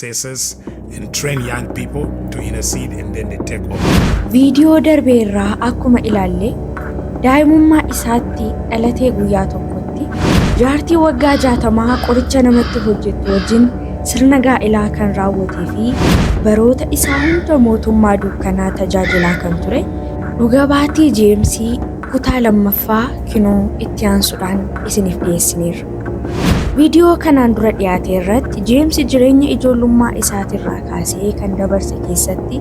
successes and train young people to intercede and then they take over. Viidiyoo darbe irraa akkuma ilaalle daa'imummaa isaatti dhalatee guyyaa tokkotti jaartii waggaa jaatamaa qoricha namatti hojjettu wajjin sirna gaa'ilaa kan raawwatee fi baroota isaa hunda mootummaa dukkanaa tajaajilaa kan ture dhuga baatii jeemsii kutaa lammaffaa kinoo itti aansuudhaan isiniif dhiyeessineerra. Viidiyoo kanaan dura dhiyaate irratti Jeemsi jireenya ijoollummaa isaatirraa kaasee kan dabarse keessatti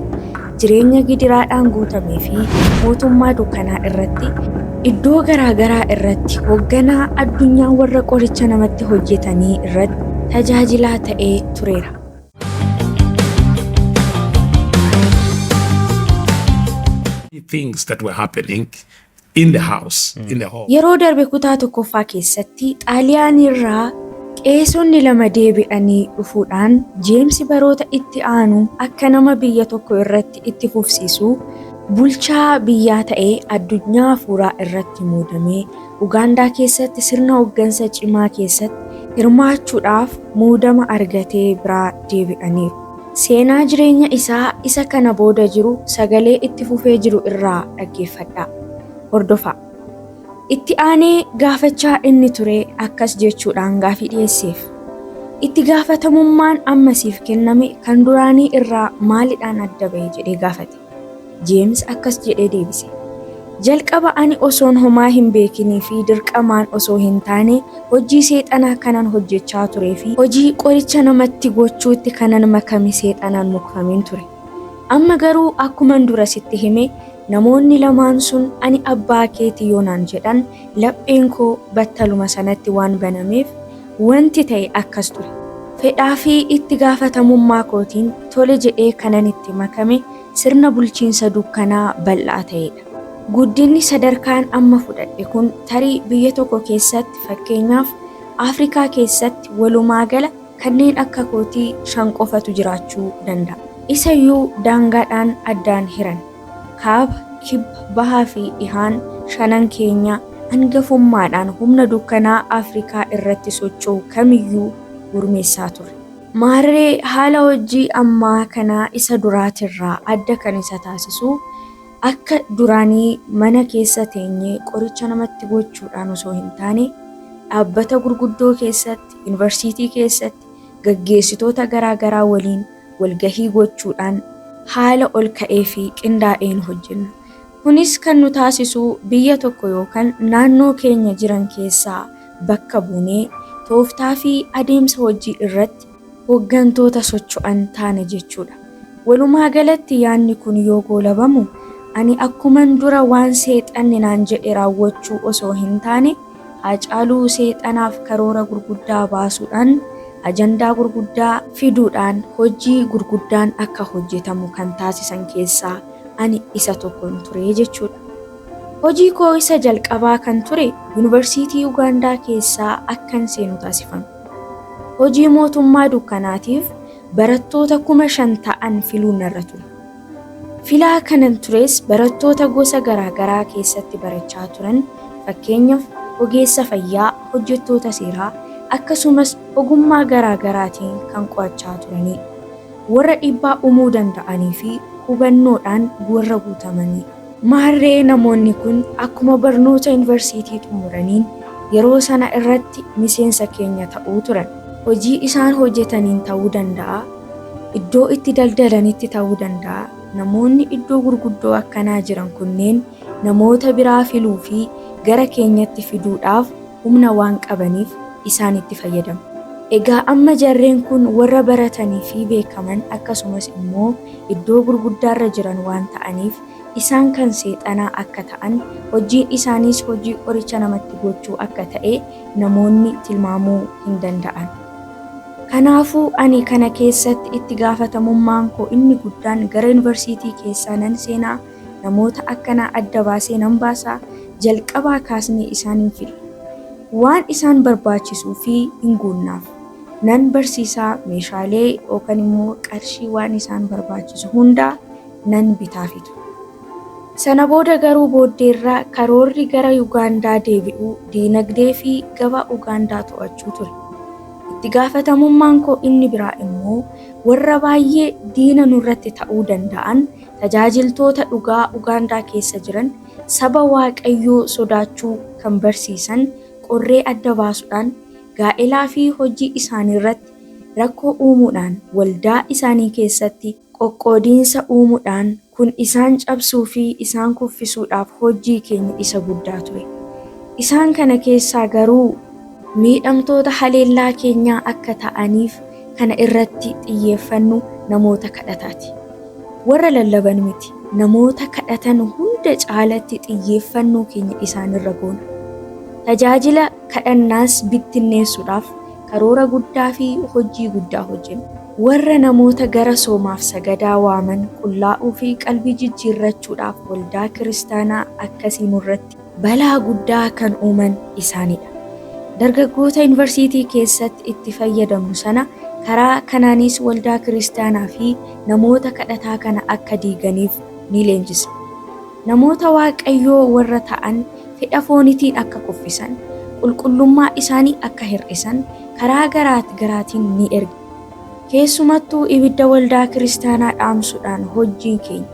jireenya gidiraadhaan guutamee fi mootummaa dukkanaa irratti iddoo garaagaraa irratti hoogganaa addunyaa warra qoricha namatti hojjetanii irratti tajaajilaa ta'ee tureera. things that were happening in the house, in the hall. Yeroo darbe kutaa tokkoffaa keessatti Xaaliyaaniirraa qeesonni lama deebi'anii dhufuudhaan Jeemsi baroota itti aanu akka nama biyya tokko irratti itti fufsiisu bulchaa biyyaa ta'ee addunyaa hafuuraa irratti muudamee Ugaandaa keessatti sirna hooggansa cimaa keessatti hirmaachuudhaaf muudama argatee biraa deebi'aniiru. Seenaa jireenya isaa isa kana booda jiru sagalee itti fufee jiru irraa dhaggeeffadhaa. Hordofaa. Itti aanee gaafachaa inni ture akkas jechuudhaan gaafii dhiyeesseef. Itti gaafatamummaan amma siif kenname kan duraanii irraa maalidhaan adda bahe jedhee gaafate. Jeems akkas jedhee deebise, Jalqaba ani osoon homaa hin beekinii fi dirqamaan osoo hin taane, hojii Seexanaa kanan hojjechaa turee fi hojii qoricha namatti gochuutti kanan makame Seexanaan mukfameen ture. Amma garuu akkuman dura sitti hime, namoonni lamaan sun ani abbaa keeti yoo naan jedhan, lapheen koo battaluma sanatti waan banameef, Wanti ta'e akkas ture. Fedhaa fi itti gaafatamummaa kootiin tole jedhee kanan itti makame sirna bulchiinsa dukkanaa bal'aa ta'ee dha. Guddinni sadarkaan amma fudhadhe kun tarii biyya tokko keessatti, fakkeenyaaf Afrikaa keessatti walumaagala kanneen akka kootii shan qofatu jiraachuu danda'a. Isa iyyuu daangaadhaan addaan hiran. Kaaba, Kibba, Bahaa fi Dhihaan shanan keenya angafummaadhaan humna dukkanaa Afrikaa irratti socho'u kamiyyuu gurmeessaa ture. Maarree haala hojjii ammaa kana isa duraatirraa adda kan isa taasisu, akka duraanii mana keessa teenyee qoricha namatti gochuudhaan osoo hin taane, dhaabbata gurguddoo keessatti, Yuunivarsiitii keessatti, gaggeessitoota garaa garaa waliin, walgahii gochuudhaan haala ol ka'ee fi qindaa'een hojjenna. Kunis kan nu taasisu biyya tokko yookan naannoo keenya jiran keessaa bakka buunee tooftaa fi adeemsa hojii irratti hoggantoota socho'an taana jechuu dha. Walumaa galatti yaanni kun yoo goolabamu ani akkuman dura waan seexanni naan jedhe raawwachuu osoo hin taane, Haacaaluu seexanaaf karoora gurguddaa baasuudhaan, ajandaa gurguddaa fiduudhaan hojii gurguddaan akka hojjetamu kan taasisan keessaa ani isa tokkon ture jechuudha. Hojii koo isa jalqabaa kan ture Yunivarsiitii Ugaandaa keessaa akkan seenu taasifame. Hojii mootummaa dukkanaatiif barattoota 5,000 ta'an filuun narra ture. Filaa kanan tures barattoota gosa garaa garaa keessatti barachaa turan fakkeenyaf ogeessa fayyaa, hojjettoota seeraa akkasumas ogummaa garaa garaatiin kan qo'achaa turaniidha. Warra dhiibbaa umuu danda'aniifi hubannoodhaan warra guutamaniidha. Maarree namoonni kun akkuma barnoota yunivarsiitii xumuraniin yeroo sana irratti miseensa keenya ta'uu turan. Hojii isaan hojjetaniin ta'uu danda'a, iddoo itti daldalanitti ta'uu danda'a, namoonni iddoo gurguddoo akkanaa jiran kunneen namoota biraa filuu fi gara keenyatti fiduudhaaf, humna waan qabaniif isaanitti fayyadamu. Egaa amma jarreen kun warra baratanii fi beekaman akkasumas immoo iddoo gurguddaarra jiran waan ta'aniif isaan kan seexanaa akka ta'an, hojjiin isaaniis hojii qoricha namatti gochuu akka ta'e namoonni tilmaamuu hin danda'an. Kanaafuu ani kana keessatti itti gaafatamummaan koo inni guddaan gara yunivarsiitii keessaa nan seenaa? Namoota akkanaa adda baasee nan baasa, jalqabaa kaasnee isaan in fidna. Waan isaan barbaachisuu fi in guunnaaf. Nan barsiisa, meeshaalee yookan immoo qarshii waan isaan barbaachisu hunda nan bitaafitu. Sana booda garuu booddeerra karoorri gara Ugaandaa deebi'uu, diinagdee fi gabaa Ugaandaa to'achuu ture. Itti gaafatamummaan koo inni biraa immoo warra baay'ee diina nurratti ta'uu danda'an tajaajiltoota dhugaa Ugaandaa keessa jiran saba Waaqayyoo sodaachuu kan barsiisan qorree adda baasuudhaan gaa'elaa fi hojii isaaniirratti rakkoo uumuudhaan waldaa isaanii keessatti qoqqoodiinsa uumuudhaan kun isaan cabsuu fi isaan kuffisuudhaaf hojjii keenya isa guddaa ture. Isaan kana keessaa garuu. Miidhamtoota haleellaa keenyaa akka ta'aniif kana irratti xiyyeeffannu namoota kadhataati. Warra lallaban miti, namoota kadhatan hunda caalatti xiyyeeffannoo keenya isaanirra goona. Tajaajila kadhannaas bittinneessuudhaaf karoora guddaa fi hojii guddaa hojjenna. Warra namoota gara soomaaf sagadaa waaman qullaa'uu fi qalbii jijjiirrachuudhaaf waldaa kiristaanaa akkasii nurratti balaa guddaa kan uuman isaanidha. Dargaggoota Yuunivarsiitii keessatti itti fayyadamu sana karaa kanaanis waldaa kiristaanaa fi namoota kadhataa kana akka diiganiif ni leenjisa. Namoota Waaqayyoo warra ta'an fedha foonitiin akka kuffisan, qulqullummaa isaanii akka hir'isan karaa garaat garaatiin ni erga. Keessumattuu ibidda waldaa kiristaanaa dhaamsuudhaan hojjiin keenya.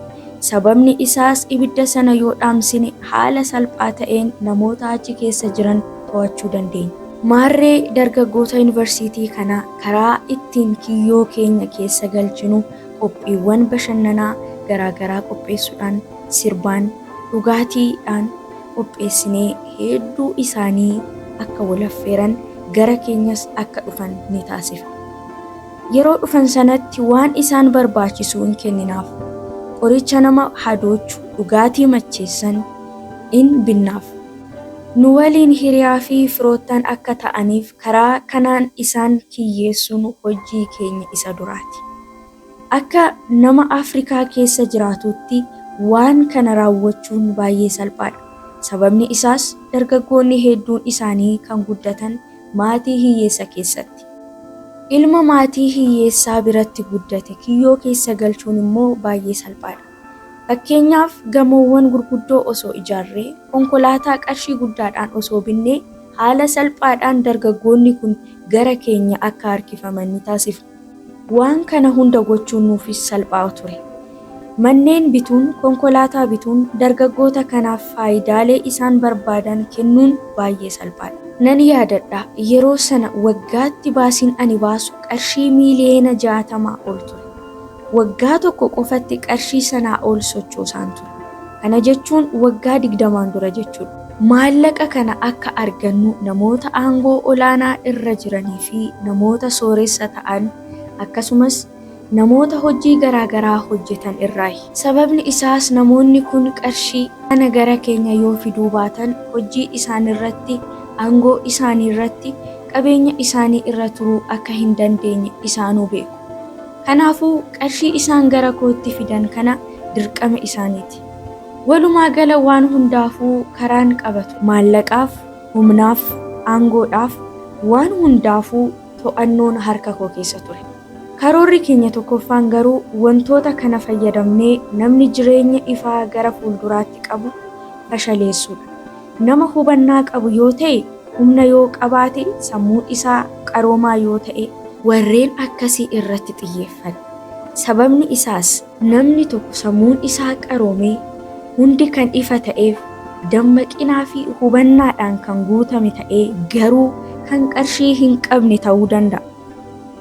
Sababni isaas ibidda sana yoo dhaamsine haala salphaa ta'een namoota achi keessa jiran to'achuu dandeenya. Maarree dargaggoota yunivarsiitii kana karaa ittiin kiyyoo keenya keessa galchinu qophiiwwan bashannanaa garaa garaa qopheessuudhaan, sirbaan, dhugaatii dhaan, qopheessinee hedduu isaanii akka wal affeeran gara keenyas akka dhufan ni taasifna. Yeroo dhufan sanatti waan isaan barbaachisu in kenninaaf. Qoricha nama hadoochu, dhugaatii macheessan in binnaaf. Nu waliin hiriyaa fi firoottan akka ta'aniif karaa kanaan isaan kiyyeessuun hojjii keenya isa duraati. Akka nama Afrikaa keessa jiraatuutti waan kana raawwachuun baay'ee salphaadha. Sababni isaas dargaggoonni hedduun isaanii kan guddatan maatii hiyyeessa keessatti. Ilma maatii hiyyeessaa biratti guddate kiyyoo keessa galchuun immoo baay'ee salphaadha. Fakkeenyaaf gamoowwan gurguddoo osoo ijaarree, konkolaataa qarshii guddaadhaan osoo binnee haala salphaadhaan dargaggoonni kun gara keenya akka harkifaman ni taasifna. Waan kana hunda gochuun nuufis salphaa ture. Manneen bituun, konkolaataa bituun dargaggoota kanaaf faayidaalee isaan barbaadan kennuun baay'ee salphaadha. Nan yaadadha, yeroo sana waggaatti baasiin ani baasu qarshii miiliyoona 60 ol ture. Waggaa tokko qofatti qarshii sanaa ol sochoosaan ture. Kana jechuun waggaa digdamaan dura jechuudha. Maallaqa kana akka argannu namoota aangoo olaanaa irra jiranii fi namoota sooressa ta'an akkasumas namoota hojjii garaa garaa hojjetan irraayi. Sababni isaas namoonni kun qarshii. kana gara keenya yoo fiduu baatan hojjii isaani irratti, aangoo isaani irratti, qabeenya isaani irra turuu akka hin dandeenye isaanuu beeku. Kanaafuu, qarshii isaan gara kootti fidan kana dirqama isaaniiti. Walumaa gala waan hundaafuu karaan qaba ture. Maallaqaaf, humnaaf, aangoodhaaf, waan hundaafuu to'annoon harka koo keessa ture. Karoorri keenya tokkoffaan garuu wantoota kana fayyadamnee namni jireenya ifaa gara fuulduraatti qabu fashaleessuudha. Nama hubannaa qabu yoo ta'e, humna yoo qabaate, sammuun isaa qaroomaa yoo ta'e. Warreen akkasii irratti xiyyeeffanna. Sababni isaas. Namni tokko sammuun isaa qaroomee, hundi kan ifa ta'eef, dammaqinaa fi hubannaadhaan kan guutame ta'ee garuu kan qarshii hin qabne ta'uu danda'a.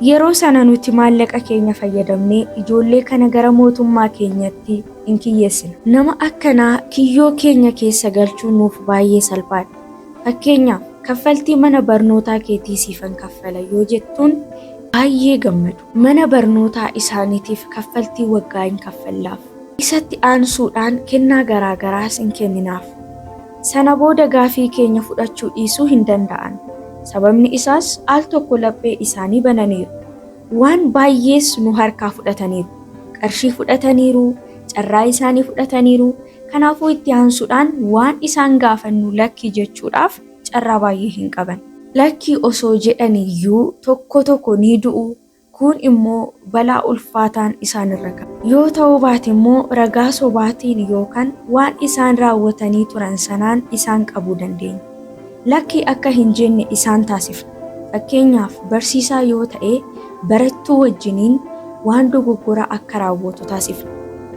Yeroo sana nuti maallaqa keenya fayyadamnee ijoollee kana gara Mootummaa keenyatti. hin kiyyeessinu. Nama akkanaa kiyyoo keenya keessa galchuun nuuf baay'ee salphaadha. Fakkeenyaaf, kaffaltii mana barnootaa keetii siifan kaffala yoo jettuun baay'ee gammadu. Mana barnootaa isaaniitiif kaffaltii waggaa in kaffallaaf. Isatti aansuudhaan kennaa garaa garaas in kenninaaf. Sana booda gaaffii keenya fudhachuu dhiisuu hin danda'an. Sababni isaas, al tokko laphee isaanii bananiiru. Waan baay'ees nu harkaa fudhataniiru. Qarshii fudhataniiru, carraa isaanii fudhataniiru. Kanaafuu itti aansuudhaan waan isaan gaafannu lakki jechuudhaaf carraa baay'ee hin qaban. Lakki osoo jedhaniyyuu tokko tokko ni du'u, kuun immoo balaa ulfaataan isaan irra ga'a. Yoo ta'uu baate immoo ragaa sobaatiin yookaan waan isaan raawwatanii turan sanaan isaan qabuu dandeenya. Lakki akka hin jenne isaan taasifna. Fakkeenyaaf, barsiisaa yoo ta'e barattuu wajjiniin waan dogoggoraa akka raawwatu taasifna.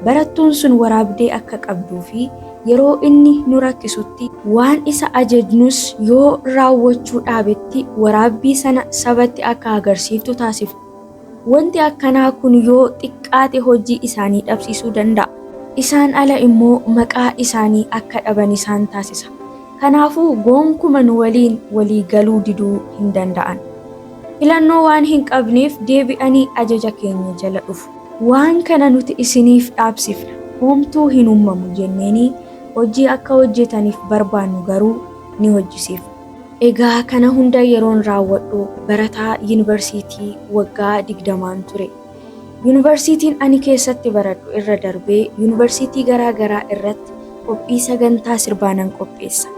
Barattuun sun waraabdee akka qabduu fi yeroo inni nu rakkisutti, waan isa ajajnus yoo raawwachuu dhaabetti waraabbii sana sabatti akka agarsiiftu taasifna. Wanti akkanaa kun yoo xiqqaate hojii isaanii dhabsiisuu danda'a. Isaan ala immoo maqaa isaanii akka dhaban isaan taasisa. Kanaafuu goonkuma nu waliin walii galuu diduu hin danda'an. Filannoo waan hin qabneef deebi'anii ajaja keenya jala dhufu. Waan kana nuti isiniif dhaabsifna, homtuu hin uummamu jenneenii hojii akka hojjetaniif barbaannu garuu ni hojjisiifna. Egaa kana hunda yeroon raawwadhu barataa yunivarsiitii waggaa 20n ture. Yunivarsiitiin ani keessatti baradhu irra darbee yunivarsiitii garaa garaa irratti qophii sagantaa sirbaa nan qopheessa.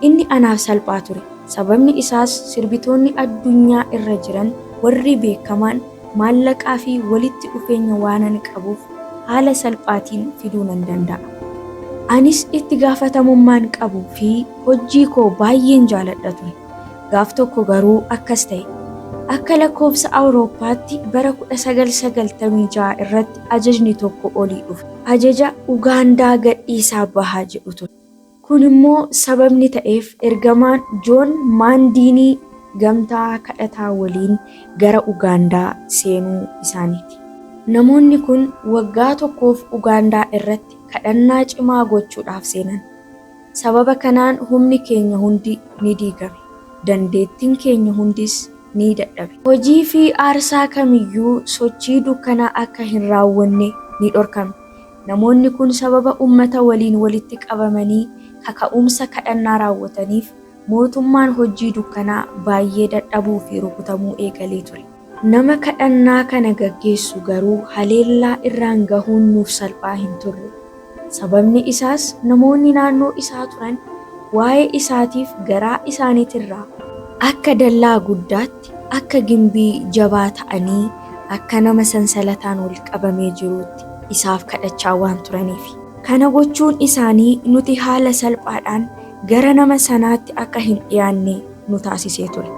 Inni anaaf salphaa ture. Sababni isaas sirbitoonni addunyaa irra jiran warri beekamaan maallaqaa fi walitti dhufeenya waanan qabuuf haala salphaatiin fiduu nan danda'a. Anis itti gaafatamummaan qabu fi Hojjii koo baayyeen jaaladha ture. Gaaf tokko garuu akkas ta'e. Akka lakkoofsa Awurooppaatti bara 1996 irratti ajajni tokko olii dhufe. Ajaja Ugaandaa gadhiisaa bahaa jedhu ture. Kun immoo sababni ta'eef ergamaan Joon Maandiinii gamtaa kadhataa waliin gara Ugaandaa seenuu isaaniiti. Namoonni kun waggaa tokkoof Ugaandaa irratti kadhannaa cimaa gochuudhaaf seenan. Sababa kanaan humni keenya hundi ni diigame, dandeettiin keenya hundis ni dadhabe. Hojii fi aarsaa kam iyyuu, sochii dukkanaa akka hin raawwanne ni dhorkamne. Namoonni kun sababa ummata waliin walitti qabamanii kaka'umsa kadhannaa raawwataniif, mootummaan hojjii dukkanaa baay'ee dadhabuu fi rukutamuu eegalee ture. Nama kadhannaa kana gaggeessu garuu haleellaa irraan gahuun nuuf salphaa hin turre. Sababni isaas namoonni naannoo isaa turan waa'ee isaatiif garaa isaanitirraa. akka dallaa guddaatti, akka gimbii jabaa ta'anii, akka nama sansalataan wal qabamee jiruutti isaaf kadhachaa waan turaniifi. Kana gochuun isaanii nuti haala salphaadhaan gara nama sanaatti akka hin dhiyaanne. nu taasisee ture.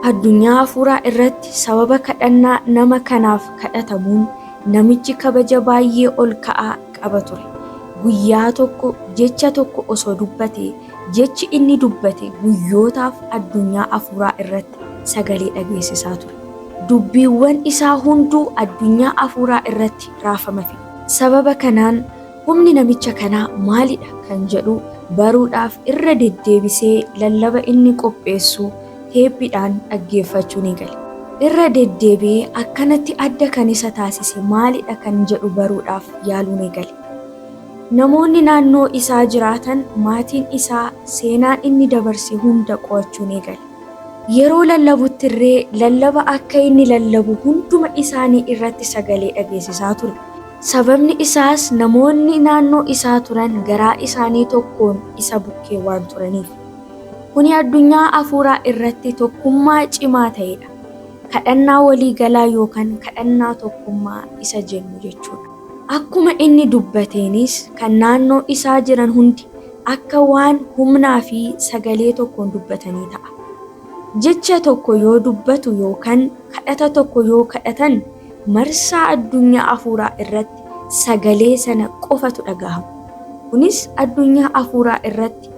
Addunyaa hafuuraa irratti sababa kadhannaa nama kanaaf kadhatamuun namichi kabaja baay'ee ol ka'aa qaba ture. Guyyaa tokko jecha tokko osoo dubbatee, jechi inni dubbate guyyootaaf addunyaa hafuuraa irratti sagalee dhageessisaa ture. Dubbiiwwan isaa hunduu addunyaa hafuuraa irratti raafama fide. Sababa kanaan Humni namicha kanaa maalidha kan jedhu baruudhaaf irra deddeebisee lallaba inni qopheessu teeppiidhaan dhaggeeffachuu ni gale. Irra deddeebi'ee akkanatti adda kan isa taasise maalidha kan jedhu baruudhaaf yaaluu ni gale. Namoonni naannoo isaa jiraatan, maatiin isaa seenaan inni dabarse hunda qo'achuu ni gale. Yeroo lallabuttirree lallaba akka inni lallabu hunduma isaanii irratti sagalee dhageessisaa ture. Sababni isaas namoonni naannoo isaa turan garaa isaanii tokkoon isa bukkee waan turaniif. Kuni addunyaa afuuraa irratti tokkummaa cimaa ta'edha. Kadhannaa walii galaa yookan kadhannaa tokkummaa isa jennu jechuudha. Akkuma inni dubbateenis kan naannoo isaa jiran hundi akka waan humnaa fi sagalee tokkoon dubbatanii ta'a. Jecha tokko yoo dubbatu yookan kadhata tokko yoo kadhatan, marsaa addunyaa afuuraa irratti sagalee sana qofatu dhagahama. Kunis addunyaa afuuraa irratti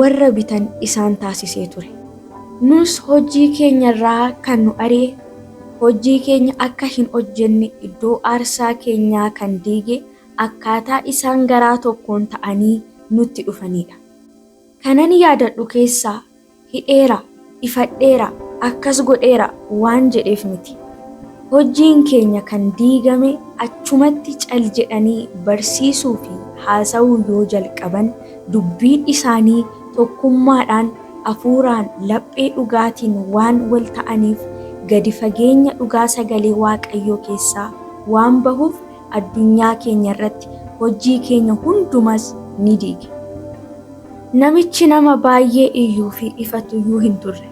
warra bitan isaan taasisee ture. Nus hojii keenya irraa kan nu ari'e, hojii keenya akka hin hojjenne, iddoo aarsaa keenyaa kan diige akkaataa isaan garaa tokkoon ta'anii nutti dhufaniidha. Kanan yaadadhu keessaa hidheera, ifadheera, akkas godheera waan jedheef miti. Hojjiin keenya kan diigame achumatti cal jedhanii barsiisuu fi haasa'uu yoo jalqaban dubbiin isaanii tokkummaadhaan afuuraan laphee dhugaatiin waan wal ta'aniif gadi fageenya dhugaa sagalee Waaqayyoo keessaa waan bahuuf addunyaa keenya irratti hojjii keenya hundumas ni diige. Namichi nama baay'ee iyyuu fi ifatu iyyuu hin turre.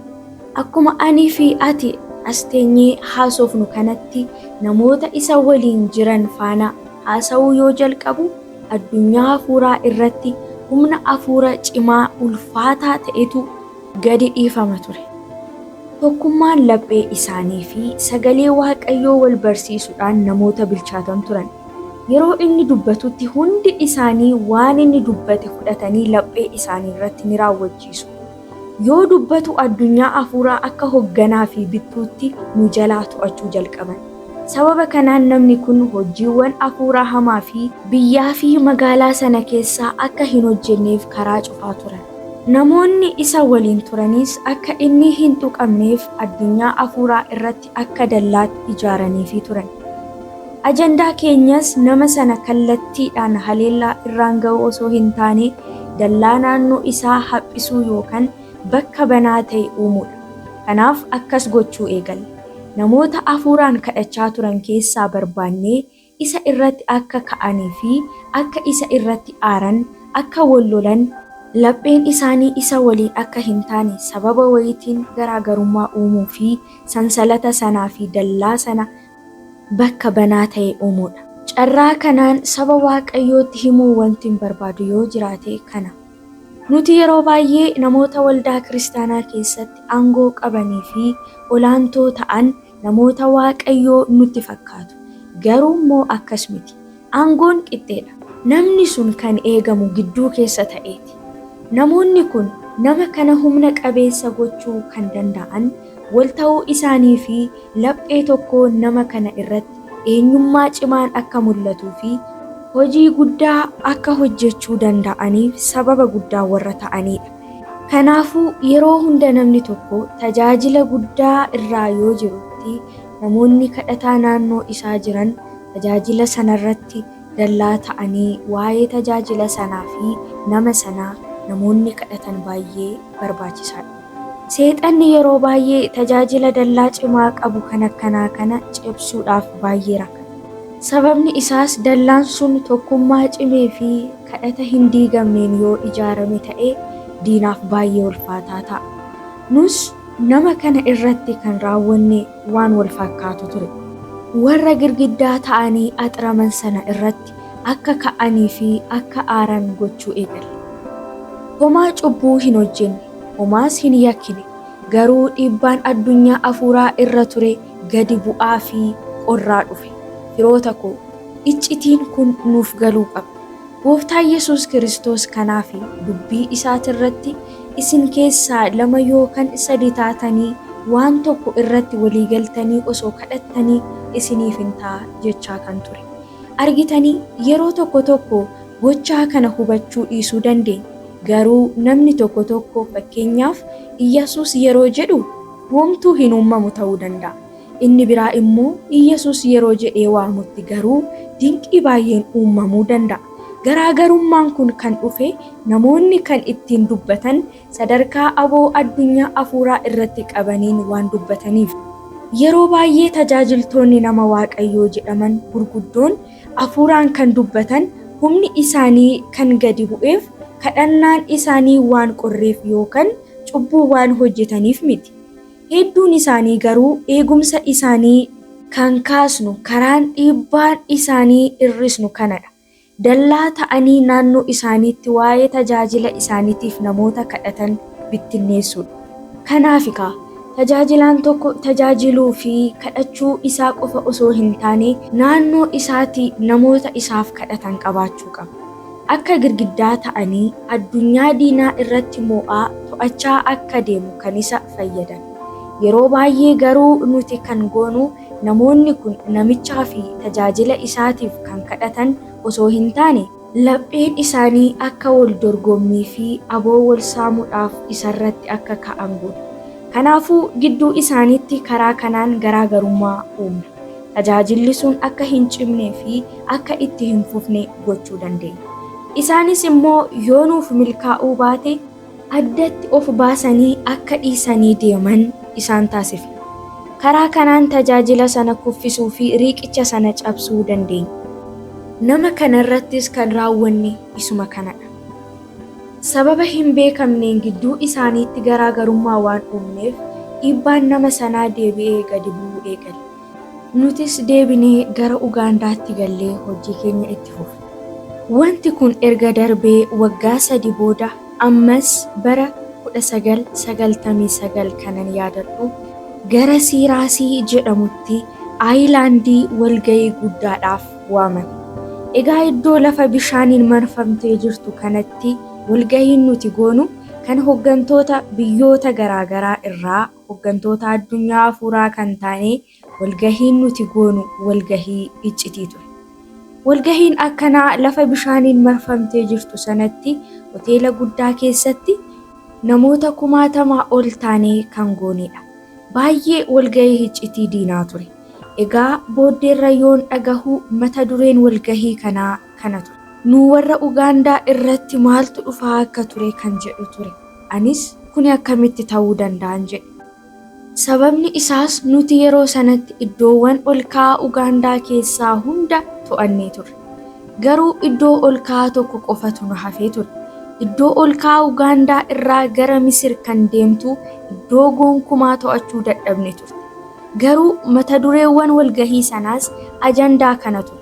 Akkuma anii fi ati as teenyee haasofnu kanatti namoota isa waliin jiran faana haasa'uu yoo jalqabu addunyaa hafuuraa irratti humna hafuura cimaa ulfaataa ta'etu gadi dhiifama ture. Tokkummaan laphee isaanii fi sagalee Waaqayyoo wal barsiisuudhaan namoota bilchaatan turan. Yeroo inni dubbatutti hundi isaanii waan inni dubbate fudhatanii laphee isaanii irratti ni raawwachiisu. Yoo dubbatu addunyaa hafuuraa akka hogganaa fi bittuutti nu jalaa to'achuu jalqaban. Sababa kanaan namni kun hojiiwwan hafuuraa hamaa fi. Biyyaa fi magaalaa sana keessaa akka hin hojjenneef karaa cufaa turan. Namoonni isa waliin turanis akka inni hin tuqamneef addunyaa hafuuraa irratti. akka dallaatti ijaaraniifii turan. Ajandaa keenyas nama sana kallattiidhaan haleellaa irraan ga'uu osoo hin taane dallaa naannoo isaa haphisuu yookan bakka banaa ta'e uumuudha. Kanaaf akkas gochuu eegalle. Namoota afuuraan kadhachaa turan keessaa barbaannee isa irratti akka ka'anii fi akka isa irratti aaran, akka wal lolan, lapheen isaanii isa waliin akka hin taane sababa wayiitiin garaa garummaa uumuu fi sansalata sanaa fi dallaa sana bakka banaa ta'e uumuu dha. Carraa kanaan saba Waaqayyootti himuu wantin barbaadu yoo jiraate kana, Nuti yeroo baay'ee namoota waldaa kiristaanaa keessatti aangoo qabanii fi olaantoo ta'an Namoota Waaqayyoo nutti fakkaatu. Garuu immoo akkas miti. Aangoon qixxee dha. Namni sun kan eegamu gidduu keessa ta'ee ti. Namoonni kun nama kana humna qabeessa gochuu kan dandaa'an wal ta'uu isaanii fi laphee tokkoon nama kana irratti eenyummaa cimaan akka mul'atuu fi hojii guddaa akka hojjechuu dandaa'aniif sababa guddaa warra ta'anii dha. Kanaafuu yeroo hunda namni tokko tajaajila guddaa irraa yoo jirutti namoonni kadhataa naannoo isaa jiran tajaajila sanarratti dallaa ta'anii waa'ee tajaajila sanaa fi nama sanaa namoonni kadhatan baay'ee barbaachisaadha. Seexanni yeroo baay'ee tajaajila dallaa cimaa qabu kan akkanaa kana cabsuudhaaf baay'ee rakkata. Sababni isaas dallaan sun tokkummaa cimee fi kadhata hin diigamneen yoo ijaarame ta'e diinaaf baay'ee ulfaataa ta'a. Nus nama kana irratti kan raawwanne waan wal fakkaatu ture. Warra girgiddaa ta'anii axiraman sana irratti akka ka'anii fi akka aaran gochuu eegalle. Homaa cubbuu hin hojjenne, homaas hin yakkine, garuu dhiibbaan addunyaa hafuuraa irra ture gadi bu'aa fi qorraa dhufe. Firoota koo! Iccitiin kun nuuf galuu qaba. Gooftaan Yesuus Kiristoos kanaa fi dubbii isaati irratti isin keessaa lama yookan sadi taatanii waan tokko irratti walii galtanii osoo kadhattanii isiniif in ta'a jechaa kan ture. Argitanii yeroo tokko tokko gochaa kana hubachuu dhiisuu dandeenya. Garuu namni tokko tokko fakkeenyaaf Iyyasuus yeroo jedhu homtuu hin uummamu ta'uu danda'a. Inni biraa immoo Iyyasuus yeroo jedhee waamutti garuu dinqii baay'een uummamuu danda'a. Garaa garummaan kun kan dhufe namoonni kan ittiin dubbatan sadarkaa aboo addunyaa afuuraa irratti qabaniin waan dubbataniif. Yeroo baay'ee tajaajiltoonni nama Waaqayyoo jedhaman gurguddoon afuuraan kan dubbatan humni isaanii kan gadi bu'eef kadhannaan isaanii waan qorreef yookan cubbuu waan hojjetaniif miti. Hedduun isaanii garuu eegumsa isaanii. kan kaasnu karaan dhiibbaa isaanii hir'isnu kana dha. Dallaa ta'anii naannoo isaaniitti waa'ee tajaajila isaaniitiif namoota kadhatan bittinneessuu dha. Kanaafi kaa, tajaajilaan tokko tajaajiluu fi kadhachuu isaa qofa osoo hin taane, naannoo isaatii namoota isaaf kadhatan qabaachuu qaba. Akka girgiddaa ta'anii addunyaa diinaa irratti moo'aa to'achaa akka deemu kan isa fayyadan. Yeroo baay'ee garuu nuti kan goonu namoonni kun namichaa fi tajaajila isaatiif kan kadhatan osoo hin taane, lapheen isaanii akka wal dorgommii fi aboo wal saamuudhaaf isa irratti akka ka'an goona. Kanaafuu gidduu isaaniitti karaa kanaan garaa garummaa uumna. Tajaajilli sun akka hin cimnee fi akka itti hin fufne gochuu dandeenya. Isaanis immoo yoo nuuf milkaa'uu baate addatti of baasanii akka dhiisanii deeman isaan taasifna. Karaa kanaan tajaajila sana kuffisuu fi riiqicha sana cabsuu dandeenya. Nama kana irrattis kan raawwanne isuma kana dha. Sababa hin beekamneen gidduu isaaniitti garaa garummaa waan uumneef dhiibbaan nama sanaa deebi'ee gadi bu'uu eegale. Nutis deebinee gara Ugaandaatti gallee hojii keenya itti fufne. Wanti kun erga darbee waggaa sadi booda ammas bara 1999 kanan yaadadhu gara Siiraasii jedhamutti Ayilaandii walga'ii guddaadhaaf waamame. Egaa iddoo lafa bishaaniin marfamtee jirtu kanatti walga'iin nuti goonu kan hoggantoota biyyoota garaagaraa irraa Hoggantoota addunyaa hafuuraa kan taane walgahiin nuti goonu walgahii iccitii ture. Walgahiin akkanaa lafa bishaaniin marfamtee jirtu sanatti hoteela guddaa keessatti namoota kumaatamaa ol taanee kan goonedha. Baay'ee walgahii iccitii diinaa ture. Egaa booddeerra yoon dhagahu mata dureen walgahii kanaa kana ture. Nu warra Ugaandaa irratti maaltu dhufaa akka ture kan jedhu ture. Anis, Kuni akkamitti ta'uu danda'an jedhe. Sababni isaas nuti yeroo sanatti iddoowwan ol ka'aa Ugaandaa keessaa hunda to'annee turre. Garuu iddoo ol ka'aa tokko qofatu nu hafee ture. Iddoo ol ka'aa Ugaandaa irraa gara Misir kan deemtu iddoo gonkumaa to'achuu dadhabne turte. Garuu mata dureewwan walgahii sanaas ajandaa kana ture.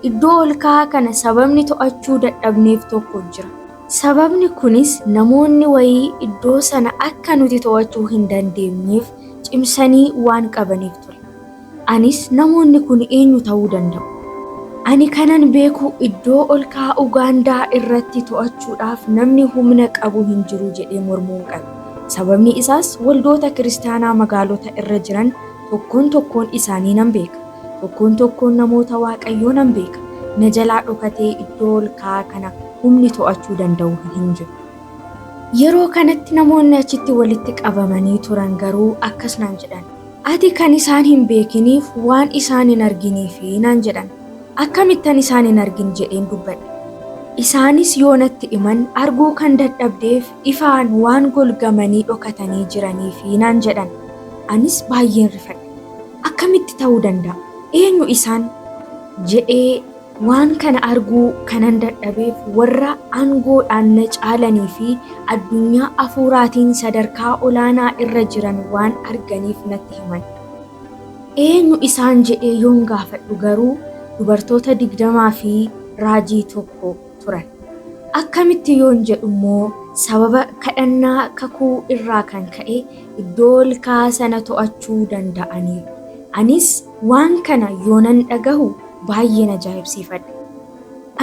Iddoo ol ka'aa kana sababni to'achuu dadhabneef tokko jira. Sababni kunis namoonni wayii iddoo sana akka nuti to'achuu hin dandeenyeef cimsanii waan qabaniif ture. Anis, Namoonni kun eenyu ta'uu danda'u? Ani kanan beeku iddoo ol ka'aa Ugaandaa irratti to'achuudhaaf namni humna qabu hin jiru jedhee mormuun qabe. Sababni isaas waldoota kiristaanaa magaalota irra jiran tokkoon tokkoon isaanii nan beeka. Tokkoon tokkoon namoota Waaqayyoo nan beeka. Na jalaa dhokatee iddoo ol ka'aa kana humni to'achuu danda'u hin jiru. Yeroo kanatti namoonni achitti walitti qabamanii turan garuu akkas naan jedhan, Ati kan isaan hin beekiniif waan isaan hin arginiifi naan jedhan. Akkamittan isaan hin argin jedheen dubbadhe. Isaanis yoo natti himan, arguu kan dadhabdeef ifaan waan golgamanii dhokatanii jiraniifi naan jedhan. Anis baay'een rifadhe. Akkamitti ta'uu danda'a? Eenyu isaan? jedhee waan kana arguu kanan dadhabeef warra aangoodhaan na caalanii fi addunyaa hafuuraatiin sadarkaa olaanaa irra jiran waan arganiif natti himan. Eenyu isaan jedhee yoon gaafadhu garuu dubartoota digdamaa fi raajii tokko turan. Akkamitti yoon jedhu immoo sababa kadhannaa kakuu irraa kan ka'e iddoo olka'aa sana to'achuu danda'aniiru. Anis waan kana yoonan dhagahu baay'een ajaa'ibsiifadhe.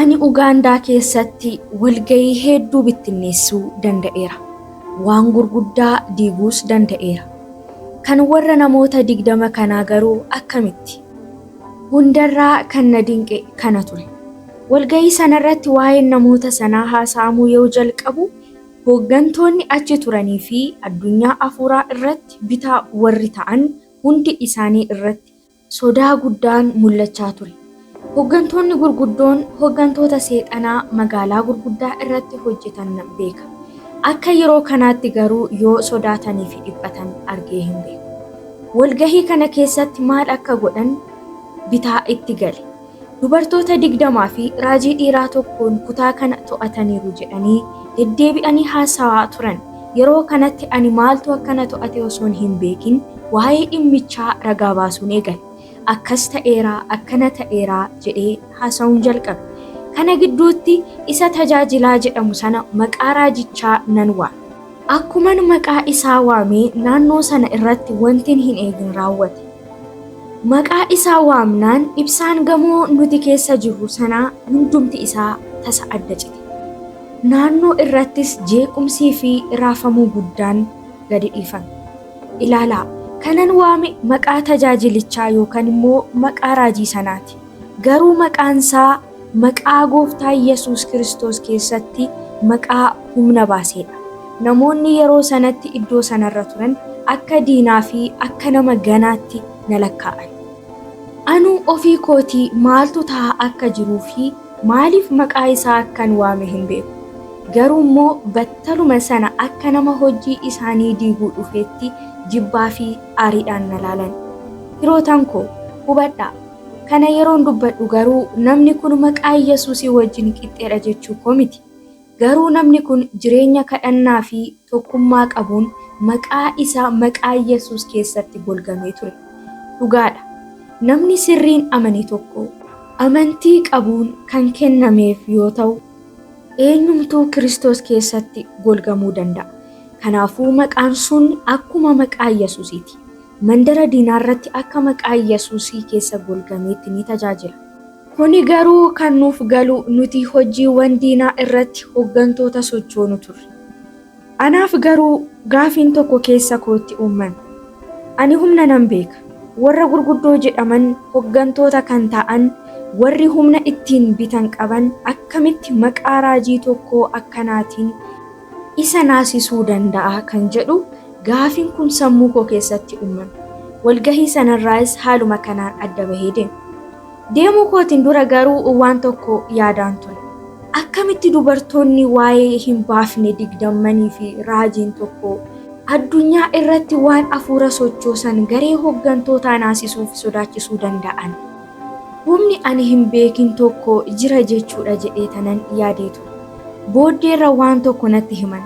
Ani Ugaandaa keessatti walga'ii hedduu bittinneessuu danda'eera. Waan gurguddaa diiguus danda'eera. Kan warra namoota digdama kanaa garuu akkamitti? Hundarraa kan na dinqe kana ture. Walga'ii sanarratti waa'een namoota sanaa haasa'amuu yoo jalqabu, hooggantoonni achi turanii fi addunyaa hafuuraa irratti bitaa warri ta'an hundi isaanii irratti sodaa guddaan mul'achaa ture. Hooggantoonni gurguddoon hooggantoota Seexanaa magaalaa gurguddaa irratti hojjetan nan beeka. Akka yeroo kanaatti garuu yoo sodaatanii fi dhiphatan argee hin beeku. Walga'ii kana keessatti maal akka godhan bitaa itti gale. Dubartoota 20 fi raajii dhiiraa tokkoon kutaa kana to'ataniiru jedhanii deddeebi'anii haasawaa turan. Yeroo kanatti ani maaltu akka na to'ate osoon hin beekin waa'ee dhimmichaa ragaa baasuun eegale. Akkas ta'eera, akkana ta'eera jedhee haasawuun jalqabe. Kana gidduutti isa Tajaajilaa jedhamu sana maqaa raajichaa nan waame. Akkuman maqaa isaa waame naannoo sana irratti wantin hin eegin raawwate. Maqaa isaa waamnaan ibsaan gamoo nuti keessa jirru sanaa hundumti isaa tasa adda cite. Naannoo irrattis jeequmsii fi raafamuu guddaan gadi dhiifame. Ilaalaa, kanan waame maqaa tajaajilichaa yookan immoo maqaa raajii sanaati. Garuu maqaan isaa maqaa Gooftaa Yesuus Kiristoos keessatti maqaa humna baasee dha. Namoonni yeroo sanatti iddoo sana irra turan akka diinaa fi akka nama ganaatti na lakkaa'an. Anuu ofii kootii maaltu ta'aa akka jiruu fi maaliif maqaa isaa akkan waame hin beeku. Garuu immoo battaluma sana akka nama hojii isaanii diiguu dhufeetti jibbaa fi aariidhaan na laalan. Firootan koo, hubadhaa! Kana yeroon dubbadhu garuu namni kun maqaa Yesuusii wajjin qixxeedha jechuu koo miti. Garuu namni kun jireenya kadhannaa fi tokkummaa qabuun maqaa isaa maqaa Yesuus keessatti golgamee ture. Dhugaadha. Namni sirriin amane tokko amantii qabuun kan kennameef yoo ta'u, eenyumtuu Kiristoos keessatti golgamuu danda'a. Kanaafuu maqaan sun akkuma maqaa Yesuusiiti. Mandara diinaa irratti akka maqaa Iyyasuusii keessa golgameetti ni tajaajila. Kuni garuu kan nuuf galu nuti hojjiiwwan diinaa irratti hoggantoota sochoonu turre. Anaaf garuu gaafiin tokko keessa kootti uummame. Ani humna nan beeka. Warra gurguddoo jedhaman hoggantoota kan ta'an warri humna ittiin bitan qaban akkamitti maqaa raajii tokkoo akkanaatiin isa naasisuu danda'a kan jedhu gaafin kun sammuu koo keessatti uumame. Walgahii sanarraayis haaluma kanaan adda bahee deeme. Deemuu kootin dura garuu waan tokko yaadaan ture. Akkamitti dubartoonni waa'ee hin baafne digdammanii fi raajiin tokko addunyaa irratti waan afuura sochoosan garee hoggantootaa naasisuuf sodaachisuu danda'an? Humni ani hin beekin tokko jira jechuudha jedheetanan yaadee ture. Booddeerra waan tokko natti himan.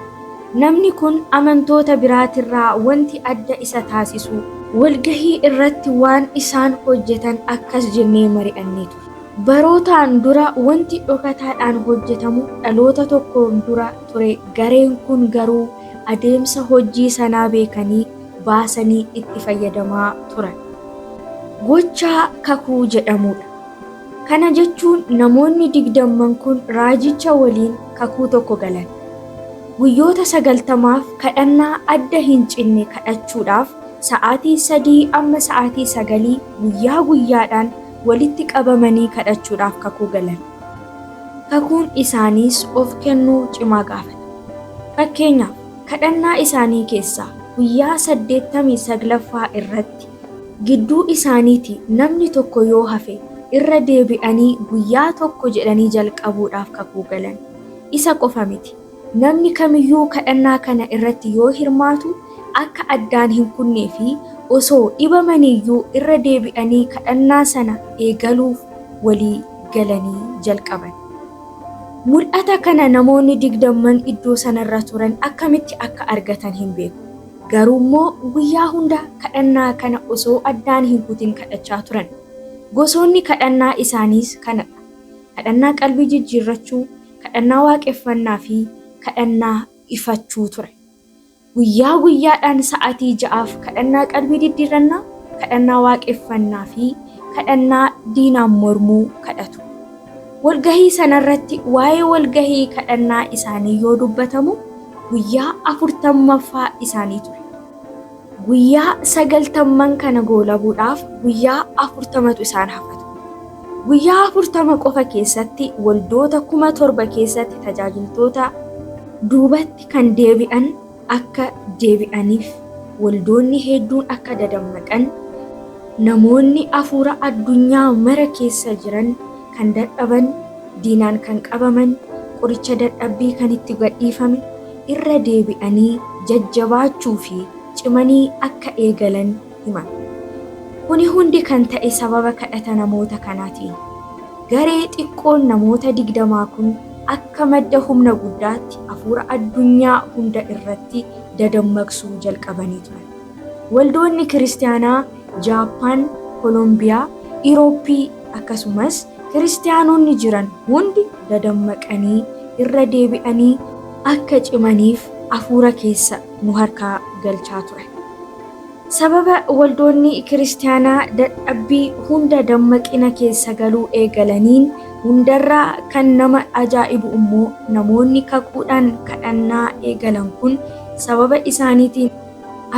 Namni kun amantoota biraatirraa wanti adda isa taasisu. Walgahii irratti waan isaan hojjetan akkas jennee mari'annee ture. Barootaan dura wanti dhokataadhaan hojjetamu dhaloota tokkoon dura ture gareen kun garuu adeemsa hojjii sanaa beekanii, baasanii itti fayyadamaa turan. Gochaa kakuu jedhamudha. Kana jechuun namoonni digdamman kun raajicha waliin kakuu tokko galan. Guyyoota sagaltamaaf kadhannaa adda hin cinne kadhachuudhaaf sa'aatii sadii amma sa'aatii sagalii guyyaa guyyaadhaan walitti qabamanii kadhachuudhaaf kakuu galan. Kakuun isaaniis of kennuu cimaa gaafata. Fakkeenyaaf, Kadhannaa isaanii keessaa guyyaa 89ffaa irratti gidduu isaaniitii namni tokko yoo hafe irra deebi'anii guyyaa tokko jedhanii jalqabuudhaaf kakuu galan. Isa qofa miti, namni kamiyyuu kadhannaa kana irratti yoo hirmaatu akka addaan hin kunnee fi osoo dhibamaniiyyuu irra deebi'anii kadhannaa sana eegaluuf walii galanii jalqaban. Mul'ata kana namoonni digdamman iddoo sana irra turan akkamitti akka argatan hin beeku. Garuu immoo guyyaa hunda kadhannaa kana osoo addaan hin kutin kadhachaa turan. Gosoonni kadhannaa isaaniis kana dha, kadhannaa qalbii jijjiirrachuu, kadhannaa waaqeffannaa fi kadhannaa ifachuu ture. Guyyaa guyyaadhaan sa'aatii ja'aaf kadhannaa qalbii diddiirrannaa, kadhannaa waaqeffannaa fi kadhannaa diinaan mormuu kadhatu. Walgahii sanarratti waa'ee walgahii kadhannaa isaanii yoo dubbatamu guyyaa afurtammaffaa isaanii ture. Guyyaa sagaltamman kana goolabuudhaaf guyyaa afurtamatu isaan hafa ture. Guyyaa afurtama qofa keessatti waldoota kuma torba keessatti tajaajiltoota duubatti kan deebi'an akka deebi'aniif, waldoonni hedduun akka dadammaqan, namoonni hafuura addunyaa mara keessa jiran kan dadhaban, diinaan kan qabaman, qoricha dadhabbii kan itti gadhiifame, irra deebi'anii jajjabaachuu fi cimanii akka eegalan himan. Kuni hundi kan ta'e sababa kadhata namoota kanaatiini. Garee xiqqoon namoota digdamaa kun akka madda humna guddaatti hafuura addunyaa hunda irratti dadammaqsuu jalqabanii turan. Waldoonni Kiristiyaanaa Jaappaan, Kolombiyaa, Irooppii, akkasumas Kiristiyaanonni jiran hundi dadammaqanii irra deebi'anii akka cimaniif hafuura keessa nu harkaa galchaa turan. Sababa waldoonni Kiristiyaanaa dadhabbii hunda dammaqina keessa galuu eegalaniin, hundarraa kan nama ajaa'ibu immoo namoonni kakuudhaan kadhannaa eegalan kun sababa isaaniitiin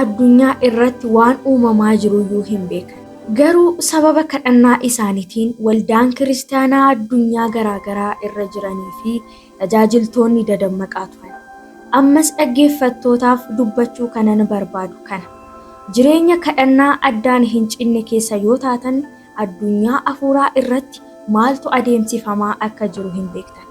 addunyaa irratti waan uumamaa jiruyyuu hin beekan. Garuu sababa kadhannaa isaaniitiin waldaan Kiristiyaanaa addunyaa garaagaraa irra jiranii fi Tajaajiltoonni dadammaqaa turan. Ammas dhaggeeffattootaaf dubbachuu kanan barbaadu kana. Jireenya kadhannaa addaan hin cinne keessa yoo taatan, addunyaa hafuuraa irratti maaltu adeemsifamaa akka jiru hin beektan.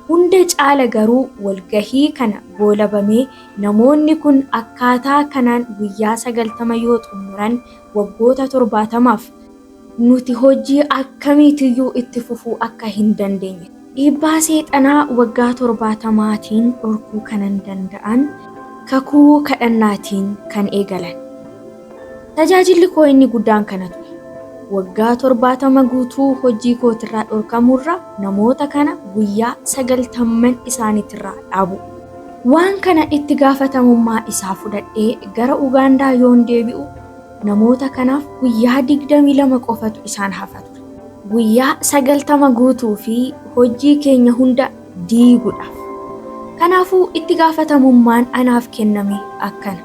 Hunda caala garuu walgahii kana goolabamee namoonni kun akkaataa kanaan guyyaa 90 yoo xumuran, waggoota 70f, nuti hojii akkamiitiyyuu itti fufuu akka hin dandeenye. Dhiibbaa Seexanaa waggaa torbaatamaatiin dhorkuu kanan danda'an kakuu kadhannaatiin kan eegalan. Tajaajilli koo inni guddaan kana ture. Waggaa torbaatama guutuu hojii kootirraa dhorkamuurra namoota kana guyyaa sagaltamman isaaniitirraa dhaabu. Waan kana itti gaafatamummaa isaa fudhadhee gara Ugaandaa yoon deebi'u Namoota kanaaf guyyaa 22 qofatu isaan hafa ture. Guyyaa 90 guutuu fi hojii keenya hunda diiguudhaaf. Kanaafuu itti gaafatamummaan anaaf kenname akkana.